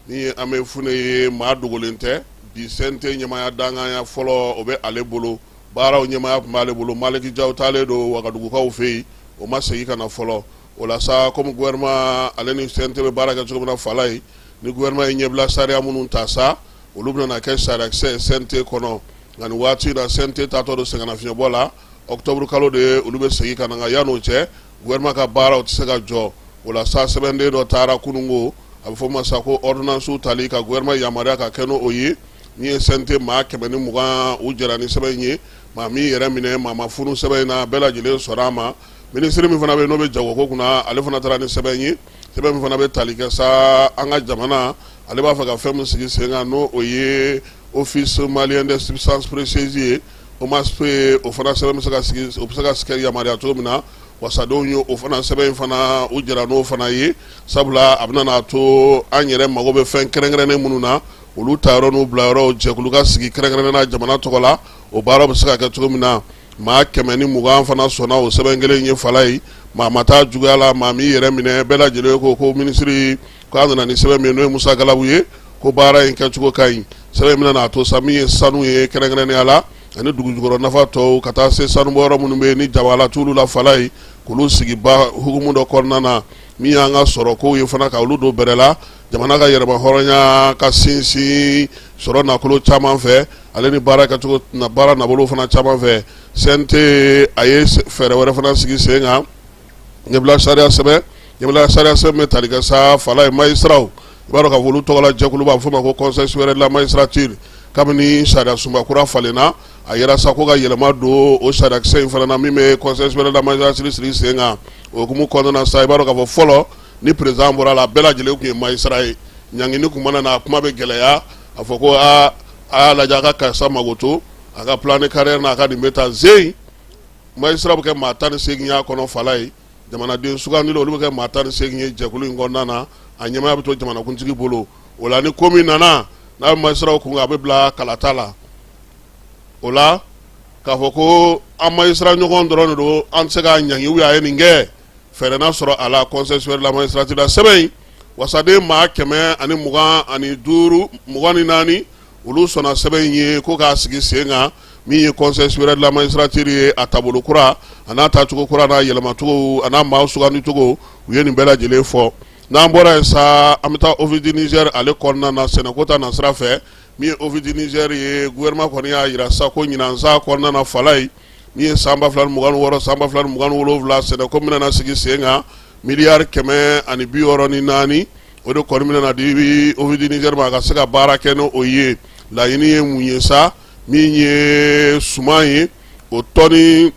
n'o ye amɛyi fune ye maa dogolen tɛ bi CNT ɲɛmaya dankanya fɔlɔ o bɛ ale bolo baaraw ɲɛmaya tun b'ale bolo maliki jaw taalen don wagadugukaw fɛ yen o ma segin ka na fɔlɔ o la sa komi gouvernement ale ni CNT bɛ baara kɛ cogo min na fala ye ni gouvernement ye ɲɛbila sariya minnu ta sa olu bɛna kɛ sariya CNT kɔnɔ nka nin waati la CNT taatɔ don sɛgɛnnafiɲɛbɔ la octobre kalo de ye olu bɛ segin ka na yanni o cɛ gouvernement ka baaraw tɛ se ka jɔ o la sa sɛbɛnden dɔ taara kununko a bɛ fɔ ma sa ko ordonnancew tali ka gouvernement yamaruya ka kɛ n'o ye nin ye CNT maa kɛmɛ ni mugan u jɛra ni sɛbɛn in ye maa m'i yɛrɛ minɛ maa ma funu sɛbɛn in na bɛɛ lajɛlen sɔrɔ a ma minisiri min fana bɛ n'o bɛ jago ko kunna ale fana taara ni sɛbɛn ye sɛbɛn min fana bɛ tali kɛ sa an ka jamana Ale b'a fɛ ka fɛn min sigi sen kan n'o ye office malien des substances précieuses ye OMASP o fana sɛbɛn bɛ se ka sigi o bɛ se ka s kɛ yamaruya cogo min na wasadenw ye o fana sɛbɛn in fana u jɛra n'o fana ye sabula a bɛna n'a to an yɛrɛ mago bɛ fɛn kɛrɛnkɛrɛnnen minnu na olu ta yɔrɔ n'u bila yɔrɔ jɛkulu ka sigi kɛrɛnkɛrɛnnen na jamana tɔgɔ la o baara bɛ se ka kɛ cogo min na maa kɛmɛ ni mugan fana sɔnna o sɛbɛn kelen in ye fala ye maa ma taa juguya la maa m'i yɛrɛ minɛ bɛɛ lajɛlen ko ko minisiri k'a nana ni sɛbɛn min ye n'o ye musa galabu ye ko baara in kɛcogo ka ɲi sɛbɛn in bɛna n'a to sa min ye sanu ye kɛrɛnkɛrɛnnenya la ani dugujukɔrɔ nafa tɔw ka taa se sanubɔyɔrɔ minnu bɛ yen ni jabala t'olu la fala ye k'olu sigi ba hukumu dɔ kɔnɔna na min y'an ka sɔrɔ kow ye fana ka olu don bɛrɛ la jamana ka yɛrɛma hɔrɔnya ka sinsin sɔrɔ nafolo caman fɛ ale ni baara kɛcogo baara nabolo fana caman fɛ CNT a ye fɛɛrɛ wɛrɛ fana sigi sen kan ɲɛbila sariya sɛbɛn ɲɛbila sariya sɛbɛn bɛ tali kɛ sa fala ye magistraw i b'a dɔn k'a fɔ olu tɔgɔla jɛkulu b'a fɔ ma ko conseil supérieur de la magistrature kabini sariyasunba kura falenna a yɛrɛ sa ko ka yɛlɛma don o sariyakisɛ in fana na min bɛ conseil supérieur de la magistrature sigi sen kan o hukumu kɔnɔna na sa i b'a dɔn k'a fɔ fɔlɔ ni président bɔra a la a bɛɛ lajɛlen tun ye magistrat ye ɲangini tun mana na a kuma bɛ gɛlɛya a fɔ ko aa a y'a lajɛ a ka karisa mago to a ka plan de carrière n'a ka nin bɛ tan zeyi Magistrat bɛ kɛ maa tan ni seegin y'a kɔnɔ fala ye jamanaden sugandilen olu bɛ kɛ maa tan ni seegin ye jɛkulu in kɔnɔna na a ɲɛmaya bɛ to jamanakuntigi bolo o la ni ko min nana n'a bɛ magistraw kun kan a bɛ bila kalata la o la k'a fɔ ko an magistrat ɲɔgɔn dɔrɔn de don an tɛ se k'a ɲangi u y'a ye nin kɛ fɛɛrɛ na sɔrɔ a la conseil supérieur de la magistrature la sɛbɛn in wasaden maa kɛmɛ ani mugan ani duuru mugan ni naani olu sɔnna sɛbɛn in ye ko k'a sigi sen kan min ye conseil supérieur de la magistrature ye a taabolo kura a n'a taacogo kura n'a yɛlɛmacogo a n'a maa sugandicogo u ye nin bɛɛ lajɛlen fɔ n'an bɔra yen sa an bɛ taa Office du Niger ale kɔnɔna na sɛnɛko ta nasira fɛ min ye Office du Niger ye gouvernement kɔni y'a jira sa ko ɲinan san kɔnɔna na fala ye min ye san ba fila ni mugan ni wɔɔrɔ san ba fila ni mugan ni wolonwula sɛnɛko min na sigi sen kan miliyari kɛmɛ ani bi wɔɔrɔ ni naani o de kɔni bɛna na di Office du Niger ma a ka se ka baara kɛ n'o ye laɲini ye mun ye sa min ye suman ye o tɔni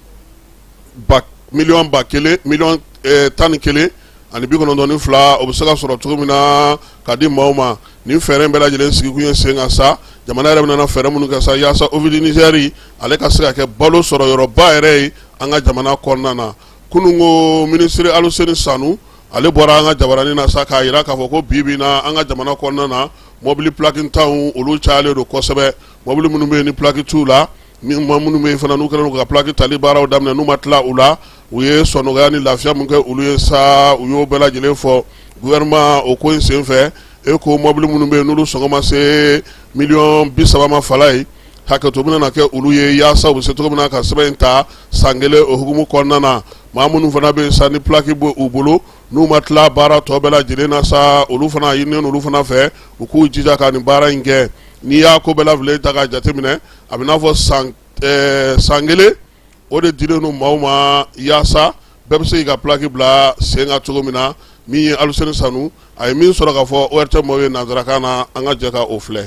ba miliyɔn ba kelen miliyɔn eh, tan ni kelen ani bi kɔnɔntɔn ni fila o bɛ se ka sɔrɔ cogo min na ka di maaw ma nin fɛɛrɛ in bɛɛ lajɛlen sigikun ye sen kan sa jamana yɛrɛ bɛna fɛɛrɛ minnu kɛ sa yaasa Office du Niger ale ka se ka kɛ balo sɔrɔ yɔrɔba yɛrɛ ye an ka jamana kɔnɔna na kunungo minisiri aluseni sanu ale bɔra an ka jabaranin na sa k'a jira k'a fɔ ko bi bi na an ka jamana kɔnɔna na mɔbili pulakintanw olu cayalen don kosɛbɛ mɔbili minnu bɛ yen ni pulaki t'u la ni maa minnu bɛ yen fana n'u kɛlen ka pulaki tali baaraw daminɛ n'u ma tila u la u ye sɔnɔgɔya ni lafiya min kɛ olu ye sa u y'o bɛɛ lajɛlen fɔ gouvernement o ko in senfɛ e ko mɔbili minnu bɛ yen n'olu sɔngɔ ma se miliyɔn bi saba ma fala ye hakɛto bɛna na kɛ olu ye yaasa u bɛ se cogo min na ka sɛbɛn in ta san kelen o hukumu kɔnɔna na maa minnu fana bɛ yen sa ni pulaki bɛ u bolo n'u ma tila baara tɔ bɛɛ lajɛlen na sa olu fana a ɲininen olu fana fɛ u k'u jija ka nin baara in kɛ n'i y'a ko bɛɛ lajɛlen ta k'a jateminɛ a bɛ n'a fɔ san eh, san kelen o de dilen don maaw ma yaasa bɛɛ bɛ se k'i ka pulaki bila sen kan cogo min na min ye aluseni sanu a ye min sɔrɔ k'a fɔ ORTM maaw ye nansarakan na an ka jɛ ka o filɛ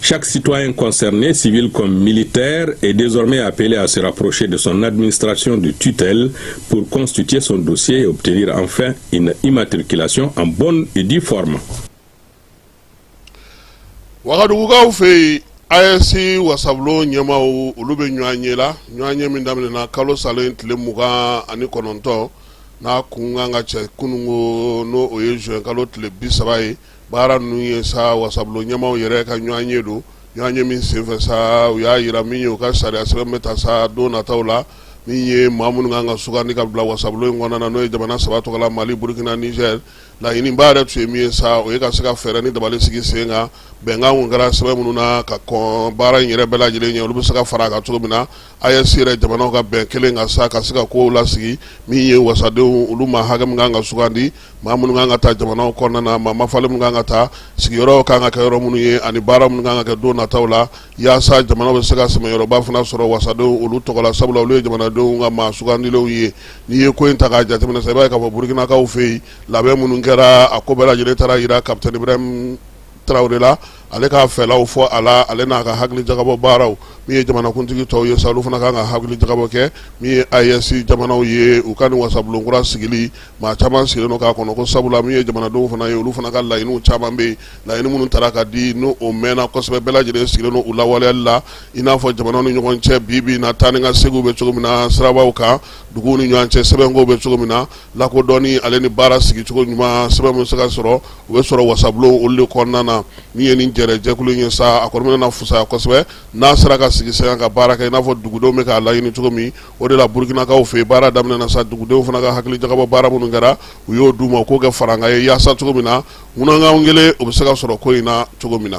Chaque citoyen concerné, civil comme militaire, est désormais appelé à se rapprocher de son administration de tutelle pour constituer son dossier et obtenir enfin une immatriculation en bonne et due forme. wagadugukaw fɛ yen AES wasabulon ɲɛmaaw olu bɛ ɲɔgɔn ye la ɲɔgɔn ye min daminɛna kalo salen tile mugan ani kɔnɔntɔn n'a kun kan ka cɛ kununko n'o ye zuwɛn kalo tile bi saba ye baara ninnu ye sa wasabulon ɲɛmaaw yɛrɛ ka ɲɔgɔn ye don ɲɔgɔn ye min senfɛ sa u y'a jira min ye u ka sariya sɛbɛn bɛ ta sa don nataw la min ye maa minnu kan ka sugandi ka bila wasabulon in kɔnɔna na n'o ye jamana saba tɔgɔ la mali burukina niger laɲiniba yɛrɛ tun ye min ye sa o ye ka se ka fɛɛrɛ ni dabali sigi sen kan bɛnkan kɛra sɛbɛn minnu na ka kɔn baara in yɛrɛ bɛɛ lajɛlen ɲɛ olu bɛ se ka fara a kan cogo min na AES jamanaw ka bɛn kelen kan sa ka se ka kow lasigi min ye wasadenw olu maa hakɛ min kan ka sugandi maa minnu kan ka ta jamanaw kɔnɔna na ma ma falen minnu kan ka ta sigiyɔrɔ kan ka kɛ yɔrɔ minnu ye ani baara minnu kan ka kɛ don nataw la yaasa jamanaw bɛ se ka sɛmɛ yɔrɔba fana sɔrɔ wasadenw olu tɔgɔ la sabula olu ye jamanadenw ka maa sugandilenw ye n'i ye ko in ta k'a jateminɛ sa i b'a ye k'a fɔ burukinakaw fɛ yen labɛn minnu kɛra a ko bɛɛ lajɛlen taara jira ka tarawele la ale k'a fɛlaw fɔ a la ale n'a ka hakili jagabɔ baaraw min ye jamanakuntigi tɔw ye sa olu fana kan ka hakili jagabɔ kɛ min ye AES jamanaw ye u ka nin wasabulonkura sigili maa caman sigilen don k'a kɔnɔ ko sabula min ye jamanadenw fana ye olu fana ka laɲiniw caman bɛ yen laɲini minnu tara ka di n'o mɛɛnna kosɛbɛ bɛɛ lajɛlen sigilen don u lawaleyali la i n'a fɔ jamanaw ni ɲɔgɔn cɛ bi bi na taa ni ka seginw bɛ cogo min na sirabaw kan dugu ni ɲɔgɔn cɛ sɛbɛnkow bɛ cogo min na lakodɔnni ale ni baara sigicogo ɲuman sɛbɛn min bɛ se ka sɔrɔ u bɛ sɔrɔ wasabulon olu de kɔnɔna na min ye nin jɛrɛ jɛkulu ye sa a kɔni bɛna fisaya kosɛbɛ n'a sera ka sigi sen kan ka baara kɛ i n'a fɔ dugudenw bɛ k'a laɲini cogo min o de la burukinakaw fɛ baara daminɛna sa dugudenw fana ka hakili jagabɔ baara minnu kɛra u y'o d'u ma k'o kɛ farankan ye yaasa cogo min na munnakaw kelen o bɛ se ka sɔrɔ ko in na cogo min na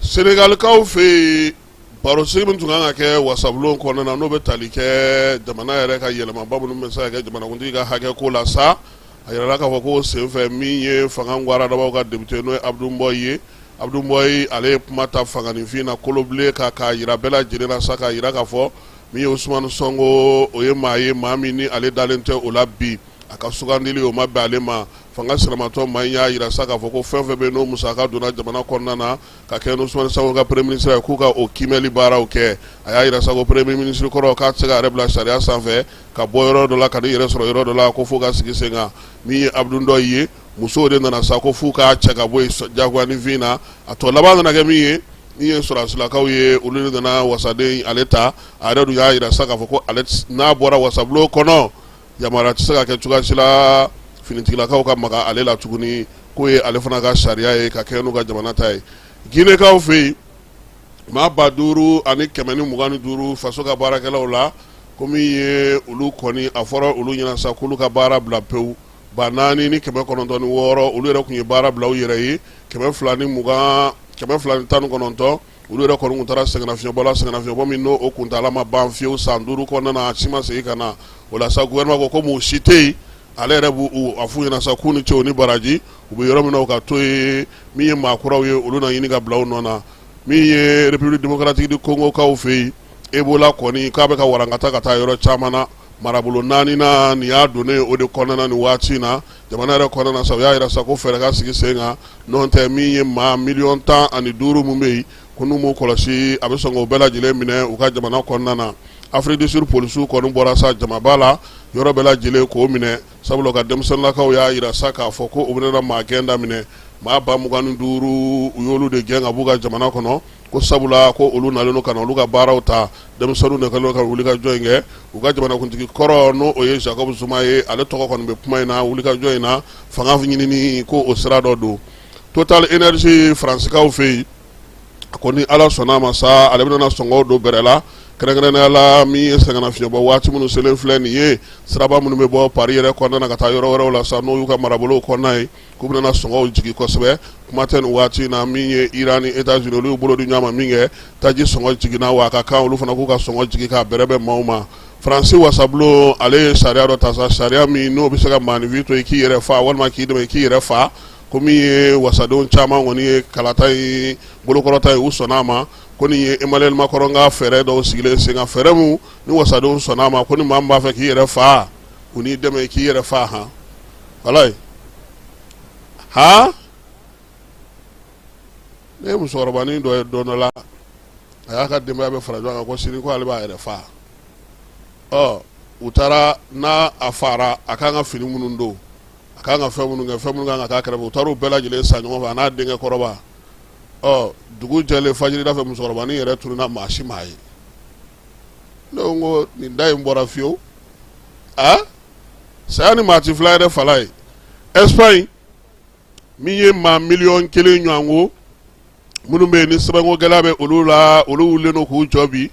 senegalikaw fɛ yen baro sigi min tun kan ka kɛ wasabulon kɔnɔna na n'o bɛ tali kɛ jamana yɛrɛ ka yɛlɛmaba minnu bɛ se ka kɛ jamanakuntigi ka hakɛ ko la sa a jirala k'a fɔ ko senfɛ min ye fanga garadabaw ka depite n'o abdou mbow ye abdou mbow ale ye kuma ta fanganinfin na kolobilen ka k'a jira bɛɛ lajɛlen la sa k'a jira k'a fɔ min ye ousmane sɔnko o ye maa ye maa min ni ale dalen tɛ o la bi a ka sugandili o ma bɛn ale ma fanga sinamatɔn maa in y'a jira sa k'a fɔ ko fɛn fɛn bɛ n'o musaka donna jamana kɔnɔna na ka kɛ ousmane sa ka premier minisiri ye k'u ka o kiimɛli baaraw kɛ a y'a jira sa ko premier minisiri kɔrɔ k'a tɛ se k'a yɛrɛ bila sariya sanfɛ ka bɔ yɔrɔ dɔ la ka n'i yɛrɛ sɔrɔ yɔrɔ dɔ la ko fo ka sigi sen kan min ye abdou mbow ye musow de nana sa ko f'u k'a cɛ ka bɔ yen jagoyaninfin na a tɔ laban nana kɛ min ye min ye sɔrɔsilakaw ye olu de nana wasaden ale ta a yɛrɛ dun y'a jira sa k'a fɔ ko n'a bɔra wasabulon kɔnɔ yamaruya tɛ se ka kɛ cogoya si la finitigilakaw ka maga ale la tuguni k'o ye ale fana ka sariya ye ka kɛ n'u ka jamana ta ye ginekaw fɛ yen maa ba duuru ani kɛmɛ ni mugan ni duuru faso ka baarakɛlaw la ko min ye olu kɔni a fɔra olu ɲɛna sa k'olu ka baara bila pewu ba naani ni kɛmɛ kɔnɔntɔn ni wɔɔrɔ olu yɛrɛ tun ye baara bila u yɛrɛ ye kɛmɛ fila ni mugan kɛmɛ fila ni tan ni kɔnɔntɔn olu yɛrɛ kɔni tun taara sɛgɛnnafiɲɛbɔ la sɛgɛnnafiɲɛbɔ min n'o o kuntaala ma ban fiyewu san duuru kɔnɔna na a si ma segin ka na o la sa gouvernement ko comme u si tɛ yen ale yɛrɛ b'u a f'u ɲɛna sa k'u ni ce u ni baraji u bɛ yɔrɔ min na u ka to yen min ye maa kuraw ye olu na ɲini ka bila u nɔ na min ye République démocratique du Congo kaw fɛ yen Ebola kɔni k'a bɛ ka walankata ka taa yɔrɔ caman na marabolo naani na nin y'a donnen ye o de kɔnɔna na nin waati in na jamana yɛrɛ kɔnɔna na sa u y'a yira sa ko fɛɛrɛ ka sigi sen kan n'o tɛ min ye maa miliyɔn tan ani duuru min bɛ yen ko n'u m'u kɔlɔsi a bɛ sɔn k'o bɛɛ lajɛlen minɛ u ka jamana kɔnɔna na Afrique du Sud polisiw kɔni bɔra sa jamaba la yɔrɔ bɛɛ lajɛlen k'o minɛ sabula u ka denmisɛnninlakaw y'a yira sa k'a fɔ ko u bɛna maa gɛn daminɛ maa ba mugan ni duuru u y'olu de gɛn ka b'u ka jamana kɔnɔ ko sabula ko olu nalen ka na olu ka baaraw ta denmisɛnninw de kɛlen ka wuli ka jɔ in kɛ u ka jamanakuntigi kɔrɔ n'o o ye Jacob Zuma ye ale tɔgɔ kɔni bɛ kuma in na wuli ka jɔ in na fanga ɲinini ko o sira dɔ don Total Energies Faransikaw fɛ yen a ko ni ala sɔnna a ma sa ale bɛna sɔngɔw don bɛrɛ la kɛrɛnkɛrɛnnenya la min ye sɛgɛnnafiɲɛbɔ waati minnu selen filɛ nin ye siraba minnu bɛ bɔ Paris yɛrɛ kɔnɔna na ka taa yɔrɔ wɛrɛw la sa n'o y'u ka marabolow kɔnɔna ye K'u bɛna sɔngɔw jigin kosɛbɛ kuma tɛ nin waati in na min ye Iran ni Etats Unis olu y'u bolo di ɲɔgɔn ma min kɛ, taji sɔngɔ jiginna wa a ka kan olu fana k'u ka sɔngɔ jigin k'a bɛrɛbɛn maaw ma. Faransi wasabulon ale ye sariya dɔ ta sa, sariya min n'o bɛ se ka maaninfin to i k'i yɛrɛ faa walima k'i dɛmɛ i k'i yɛrɛ faa, ko min ye wasadenw caman kɔni ye kalata in bolokɔrɔta ye, u sɔnna a ma. Ko nin ye Emmanuel Macron ka fɛɛrɛ dɔw sigilen senkan, fɛɛrɛ min ni wasadenw sɔnna a ma, ko ni maa min b'a fɛ k'i yɛrɛ faa, u n'i dɛmɛ k'i yɛrɛ fa han walayi han ne ye musokɔrɔbanin dɔ ye don dɔ la a y'a ka denbaya bɛɛ fara ɲɔgɔn kan ko sini ko ale b'a yɛrɛ fa ɔ u taara n'a a fara a kan ka fini minnu don a kan ka fɛn minnu kɛ fɛn minnu kan ka taa kɛrɛfɛ u taara u bɛɛ lajɛlen san ɲɔgɔn fɛ a n'a denkɛ kɔrɔba ɔ dugu jɛlen fajirida fɛ musokɔrɔbanin yɛrɛ tununna maa si m'a ye ne ko nin da in bɔra fiyewu saya ni maa ti fila yɛrɛ fala ye Espagne min ye maa miliyɔn kelen ɲɔgɔn ko minnu bɛ yen ni sɛbɛnko gɛlɛya bɛ olu la olu wulilen don k'u jɔ bi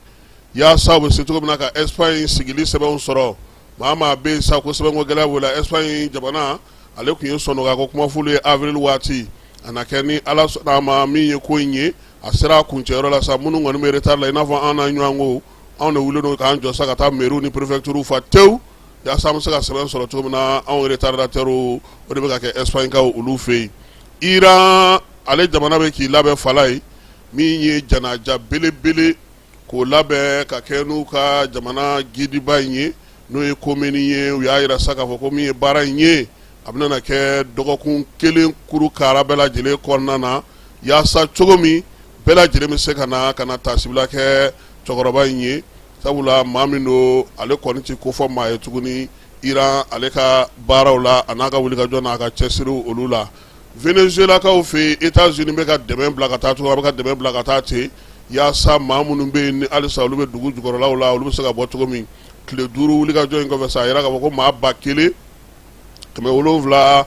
yaasa u bɛ se cogo min na ka Espagne sigili sɛbɛnw sɔrɔ maa maa bɛ yen sa ko sɛbɛnko gɛlɛya b'o la Espagne jamana ale tun ye sɔnɔga ko kuma f'olu ye avril waati a na kɛ ni ala sɔnna a ma min ye ko in ye a sera a kuncɛyɔrɔ la sa minnu kɔni bɛ retard la i n'a fɔ an na ɲɔgɔn ko anw de wulilen don k'an jɔ sa ka taa mɛri ni perefekturu fa tewu yaasa an bɛ se ka sɛbɛn sɔrɔ cogo min na anw retardataires o de bɛ ka kɛ espagnekaw olu fɛ yen iran ale jamana bɛ k'i labɛn fala ye min ye janaja belebele k'o labɛn ka kɛ n'u ka jamana gidiba in ye n'o ye komini ye u y'a jira sa k'a fɔ ko min ye baara in ye a bɛna kɛ dɔgɔkun kelen kuru kara bɛɛ lajɛlen kɔnɔna na yaasa cogo min bɛɛ lajɛlen bɛ se ka na ka na tasibila kɛ cɛkɔrɔba in ye sabula maa min don ale kɔni tɛ kofɔ maa ye tuguni iran ale ka baaraw la a n'a ka wulikajɔ n'a ka cɛsiriw olu la venezuelakaw fɛ etats-unis bɛ ka dɛmɛ bila ka taa cogo min a bɛ ka dɛmɛ bila ka taa ten yaasa maa minnu bɛ yen ni halisa olu bɛ dugu jukɔrɔlaw la olu bɛ se ka bɔ cogo min tile duuru wulikajɔ in kɔfɛ sa a jira k'a fɔ ko maa ba kelen kɛmɛ wolonwula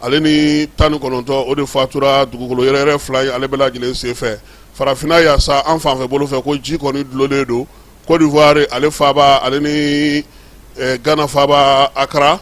ale ni tan ni kɔnɔntɔn o de fatura dugukolo yɛrɛyɛrɛ fila in ale bɛɛ lajɛlen sen fɛ farafinna yan sa an fanfɛ bolo fɛ ko ji kɔni dulonnen don kodiwari ale faba ale ni gana faba akara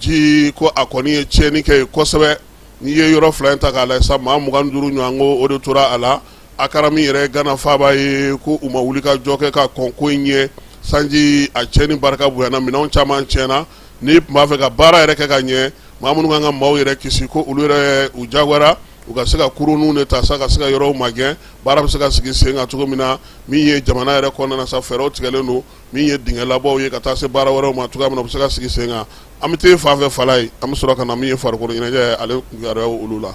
ji ko a kɔni ye tiɲɛni kɛ yen kosɛbɛ n'i ye yɔrɔ fila in ta k'a lajɛ sa maa mugan duuru ɲɔgɔn ko o de tora a la akara min yɛrɛ gana faba ye ko u ma wuli ka jɔ kɛ ka kɔn ko in ɲɛ sanji a tiɲɛni barika bonyana minɛn caman tiɲɛna n'i tun b'a fɛ ka baara yɛrɛ kɛ ka ɲɛ maa minnu kan ka maaw yɛrɛ kisi ko olu yɛrɛ u jagoyara u ka se ka kurunw de ta sa ka se ka yɔrɔw magɛn baara bɛ se ka sigi sen kan cogo min na min ye jamana yɛrɛ kɔnɔna sa fɛɛrɛw tigɛlen don min ye dingɛ labɔw ye ka taa se baara wɛrɛw ma cogoya min na u bɛ se ka sigi sen kan an bɛ taa fan fɛ fala ye an bɛ sɔrɔ ka na min ye farikolo ɲɛnajɛ ale kibaruyaw olu la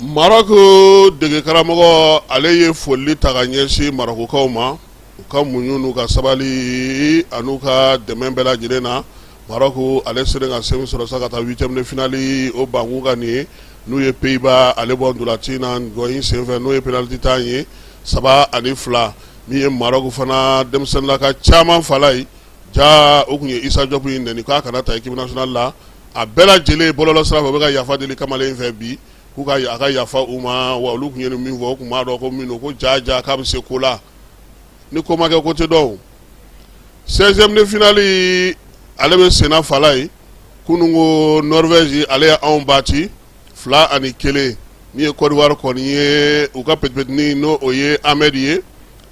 marɔku dege karamɔgɔ ale ye foli ta ka ɲɛsin marɔkukaw ma u ka muɲu n'u ka sabali an'u ka dɛmɛ bɛɛ lajɛlen na marɔku ale sera ka se min sɔrɔ sa ka taa huitième de finali o banku ka nin ye n'u ye pays-bas ale bɔ ntolaci ɲɔgɔn in senfɛ n'o ye penaliti tan ye saba ani fila min ye marɔku fana denmisɛnninlakaw caman fala ye ja o tun ye isa jɔpu in nɛni k'a kana ta équipe nationale la a bɛɛ lajɛlen bɔlɔlɔ sira fɛ u bɛ ka yafa deli kamalen in fɛ bi k'u ka a ka yafa u ma wa olu tun ye min fɔ u tun m'a dɔn ko min ko ja ja k'a bɛ se ko la ni ko ma kɛ ko tɛ dɔn seizième de finali ale bɛ senna fala ye kunun ko nɔrivɛzi ale ye anw bati fila ani kelen min ye kodiwari kɔni ye u ka petipetini n'o o ye amɛdi ye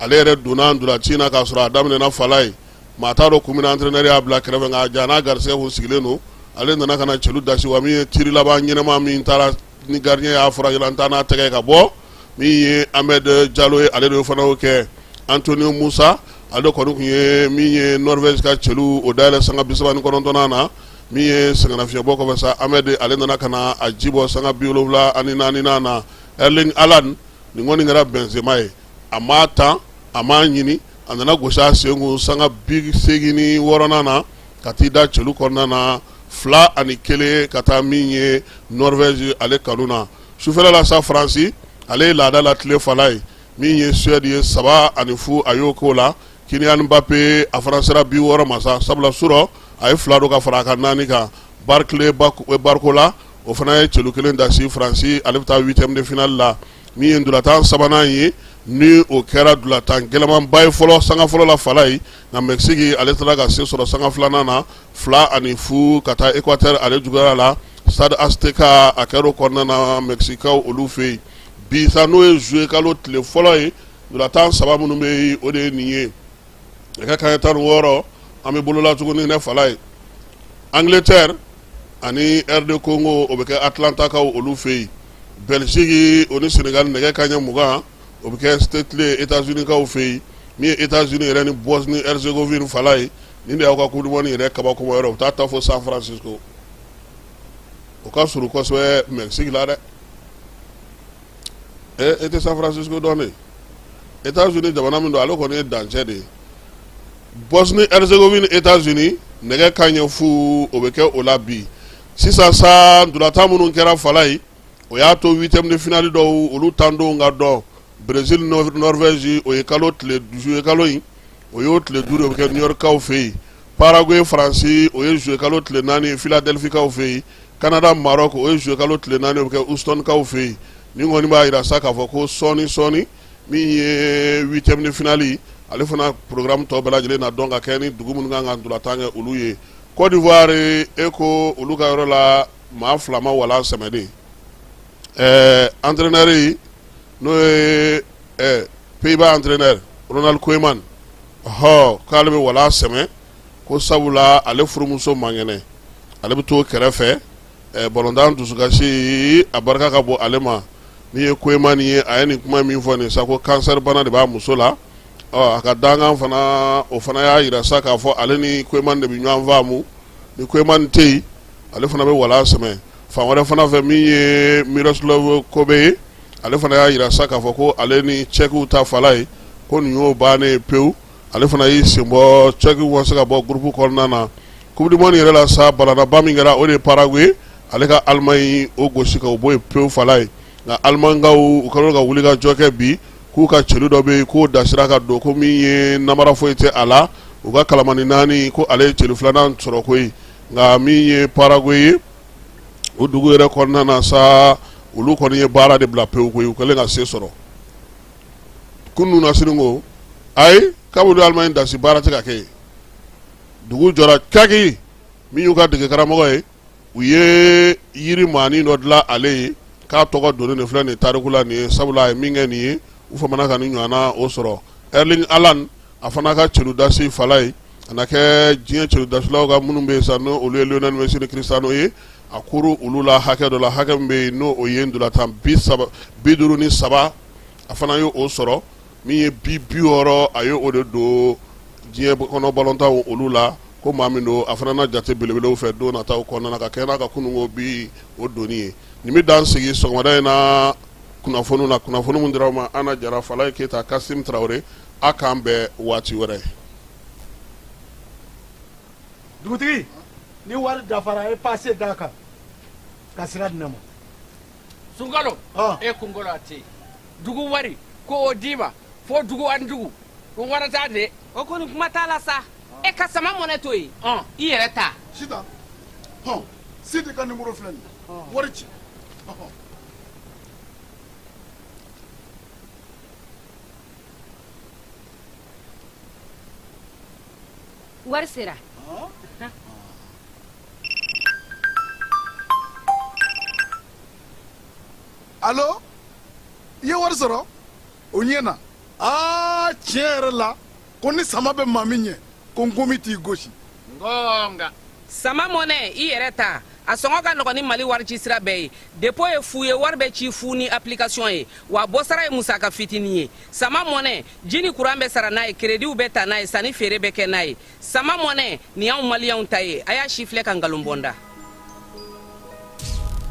ale yɛrɛ donna ntolaci na k'a sɔrɔ a daminɛna fala ye maa t'a dɔn kun min na entraîneur y'a bila kɛrɛfɛ nka jaa n'a garisɛgɛ tun sigilen don ale nana ka na cɛlu dasi wa min ye tir laban ɲɛnama min taara ni gardien y'a fara an taa n'a tɛgɛ ka bɔ min ye Amad Diallo ye ale de fana y'o kɛ Antonio Musa ale kɔni tun ye min ye Norvège ka cɛlu o dayɛlɛ sanga bisaba ni kɔnɔntɔn na min ye sɛgɛnnafiɲɛbɔ kɔfɛ sa Amad ale nana ka na a jibɔ sanga biwolonwula ani naani na Erling Haaland nin kɔni kɛra Benzema ye a m'a tan a m'a ɲini a nana gosi a senkun sanga bisegin ni wɔɔrɔ na ka t'i da cɛlu kɔnɔna na fila ani kelen ka taa min ye Norvège ale kanu na sufɛla la sa faransi ale ye laada latilen fala ye min ye Suède ye saba ani fu a y'o koo la Kylian Mbappé a fana sera bi wɔɔrɔ ma sa sabula surɔ a ye fila don ka fara a ka naani kan Bradley Barcola o fana ye cɛlu kelen dasi faransi ale bɛ taa huitième de finale la min ye ntolatan sabanan ye ni o kɛra ntolatan gɛlɛmanba ye fɔlɔ sanga fɔlɔ la fala ye nka Mexique ale taara ka se sɔrɔ sanga filanan na fila ani fu ka taa Équateur ale juguyara la Stade Azteca a kɛra o kɔnɔna na Mexiquekaw olu fɛ yen bi sa n'o ye juillet kalo tile fɔlɔ ye ntolatan saba minnu bɛ yen o de ye nin ye nɛgɛ ka ɲɛ tan ni wɔɔrɔ an bɛ bolola tuguni ne fala ye Angleterre ani RD Congo o bɛ kɛ Atlantakaw olu fɛ yen Bɛsegin o ni sɛnɛka nɛgɛ ka ɲɛ mugan o bɛ kɛ setilen e zunikaw fɛ yen min ye e z yɛrɛ ni bɔs ni zsekovf fala ye ni de y'aw ka kuli yɛrɛ kabako yɔrɔ u taa taa fɔ san fransi o ka s kosɛbɛ mɛ sigi la dɛ e tɛ san fransi dɔn e z jamana min don ale kɔni ye dancɛ de ye bɔs ni zsekovf e zoni nɛgɛ ka ɲɛ fu o bɛ kɛ o la bi sisan sa ntolatan minnu kɛra fala ye o y'a to huitième de finale dɔw olu tandonw ka dɔn Brésil Norvège o ye kalo tile juillet kalo in o y'o tile duuru ye o bɛ kɛ New Yorkkaw fɛ yen Paraguay Faransi o ye juillet kalo tile naani ye Philadelphikaw fɛ yen Canada Maroc o ye juillet kalo tile naani ye o bɛ kɛ Houstonkaw fɛ yen nin kɔni b'a jira sa k'a fɔ ko sɔɔni sɔɔni min ye huitième de finale ale fana programme tɔ bɛɛ lajɛlen na dɔn ka kɛ ni dugu minnu kan ka ntolatan kɛ olu ye Kɔdiwari e ko olu ka yɔrɔ la maa fila ma walan sɛmɛ dɛ entraîneur in n'o ye Pays-Bas entraîneur Ronald Koeman ɔ k'ale bɛ walan sɛmɛ ko sabula ale furumuso man kɛnɛ ale bɛ to kɛrɛfɛ balontan dusukasi a barika ka bon ale ma n'i ye Koeman ye a ye nin kuma min fɔ nin sa ko cancer bana de b'a muso la A ka dankan fana o fana y'a jira sa k'a fɔ ale ni Koeman de bɛ ɲɔgɔn faamu ni Koeman tɛ yen ale fana bɛ wala sɛmɛ fan wɛrɛ fana fɛ min ye Miroslav Koubek ye ale fana y'a jira sa k'a fɔ ko ale ni Cɛkiw ta Falayi ko nin y'o bannen ye pewu ale fana y'i sen bɔ Cɛkiw ma se ka bɔ groupe kɔnɔna na Coupe du Monde yɛrɛ la sa balannaba min kɛra o de ye Paraguay ale ka Allemagne o gosi ka o bɔ yen pewu Falayi nka Alimaɲikaw u kɛlen ka wulikajɔ kɛ bi k'u ka celu dɔ bɛ yen k'o dasira ka don ko min ye nanbara foyi tɛ a la u ka kalamani naani ko ale ye celu filanan sɔrɔ koyi nka min ye Paraguay ye o dugu yɛrɛ kɔnɔna na sa olu kɔni ye baara de bila pewu koyi u kɛlen ka se sɔrɔ kunun na sini ko ayi kabulu Allemagne dasi baara tɛ ka kɛ yen dugu jɔra kaki min y'u ka degekaramɔgɔ ye u ye yiri maani dɔ dilan ale ye k'a tɔgɔ donnen filɛ nin tariku la nin ye sabula a ye min kɛ nin ye u famana ka nin ɲɔgɔnna o sɔrɔ Erling Haaland a fana ka celu dasi Falayi a na kɛ diɲɛ celudasilaw ka minnu bɛ yen sa n'olu ye Lionel Messi ni Cristiano ye a kuru olu la hakɛ dɔ la hakɛ min bɛ yen n'o ye ntolatan bi duuru ni saba a fana y'o sɔrɔ min ye bi bi wɔɔrɔ a ye o de don diɲɛ kɔnɔ balontan olu la ko maa min don a fana na jate belebelew fɛ don nataw kɔnɔna ka kɛ n'a ka kununko bi o donni ye nin bɛ dan sigi sɔgɔmada in na kunnafoni na kunnafoni min dira aw ma Ana Jara Falayi Keyita Kasimu Tarawele a k'an bɛn waati wɛrɛ dugutigi ni wari dafara a ye pase d'a kan ka sira di n ma sunkalo e kunkolo a tɛ yen dugu wari ko o d'i ma fo dugu ani dugu ko wari t'a de o kɔni kuma t'a la sa e ka sama mɔnɛ to yen i yɛrɛ ta sita hɔn sidi ka nimoro filɛ nin wari ci wari sera alo i ye wari sɔrɔ o ɲɛ na aa tiɲɛ yɛrɛ la ko ni sama bɛ maa min ɲɛ ko nkomi t'i gosi ngɔnga sama mɔnɛ i yɛrɛ ta a sɔngɔ ka nɔgɔn ni mali wari ci sira bɛɛ ye depo ye fu ye wari bɛ ci fu ni application ye wa bɔsara ye musaka fitini ye sama mɔnɛ ji ni kuran bɛ sara n'a ye kerediw bɛ ta n'a ye sanni feere bɛ kɛ n'a ye sama mɔnɛ nin y'anw maliyɛnw ta ye a y'a sifilɛ ka nkalon bɔ n da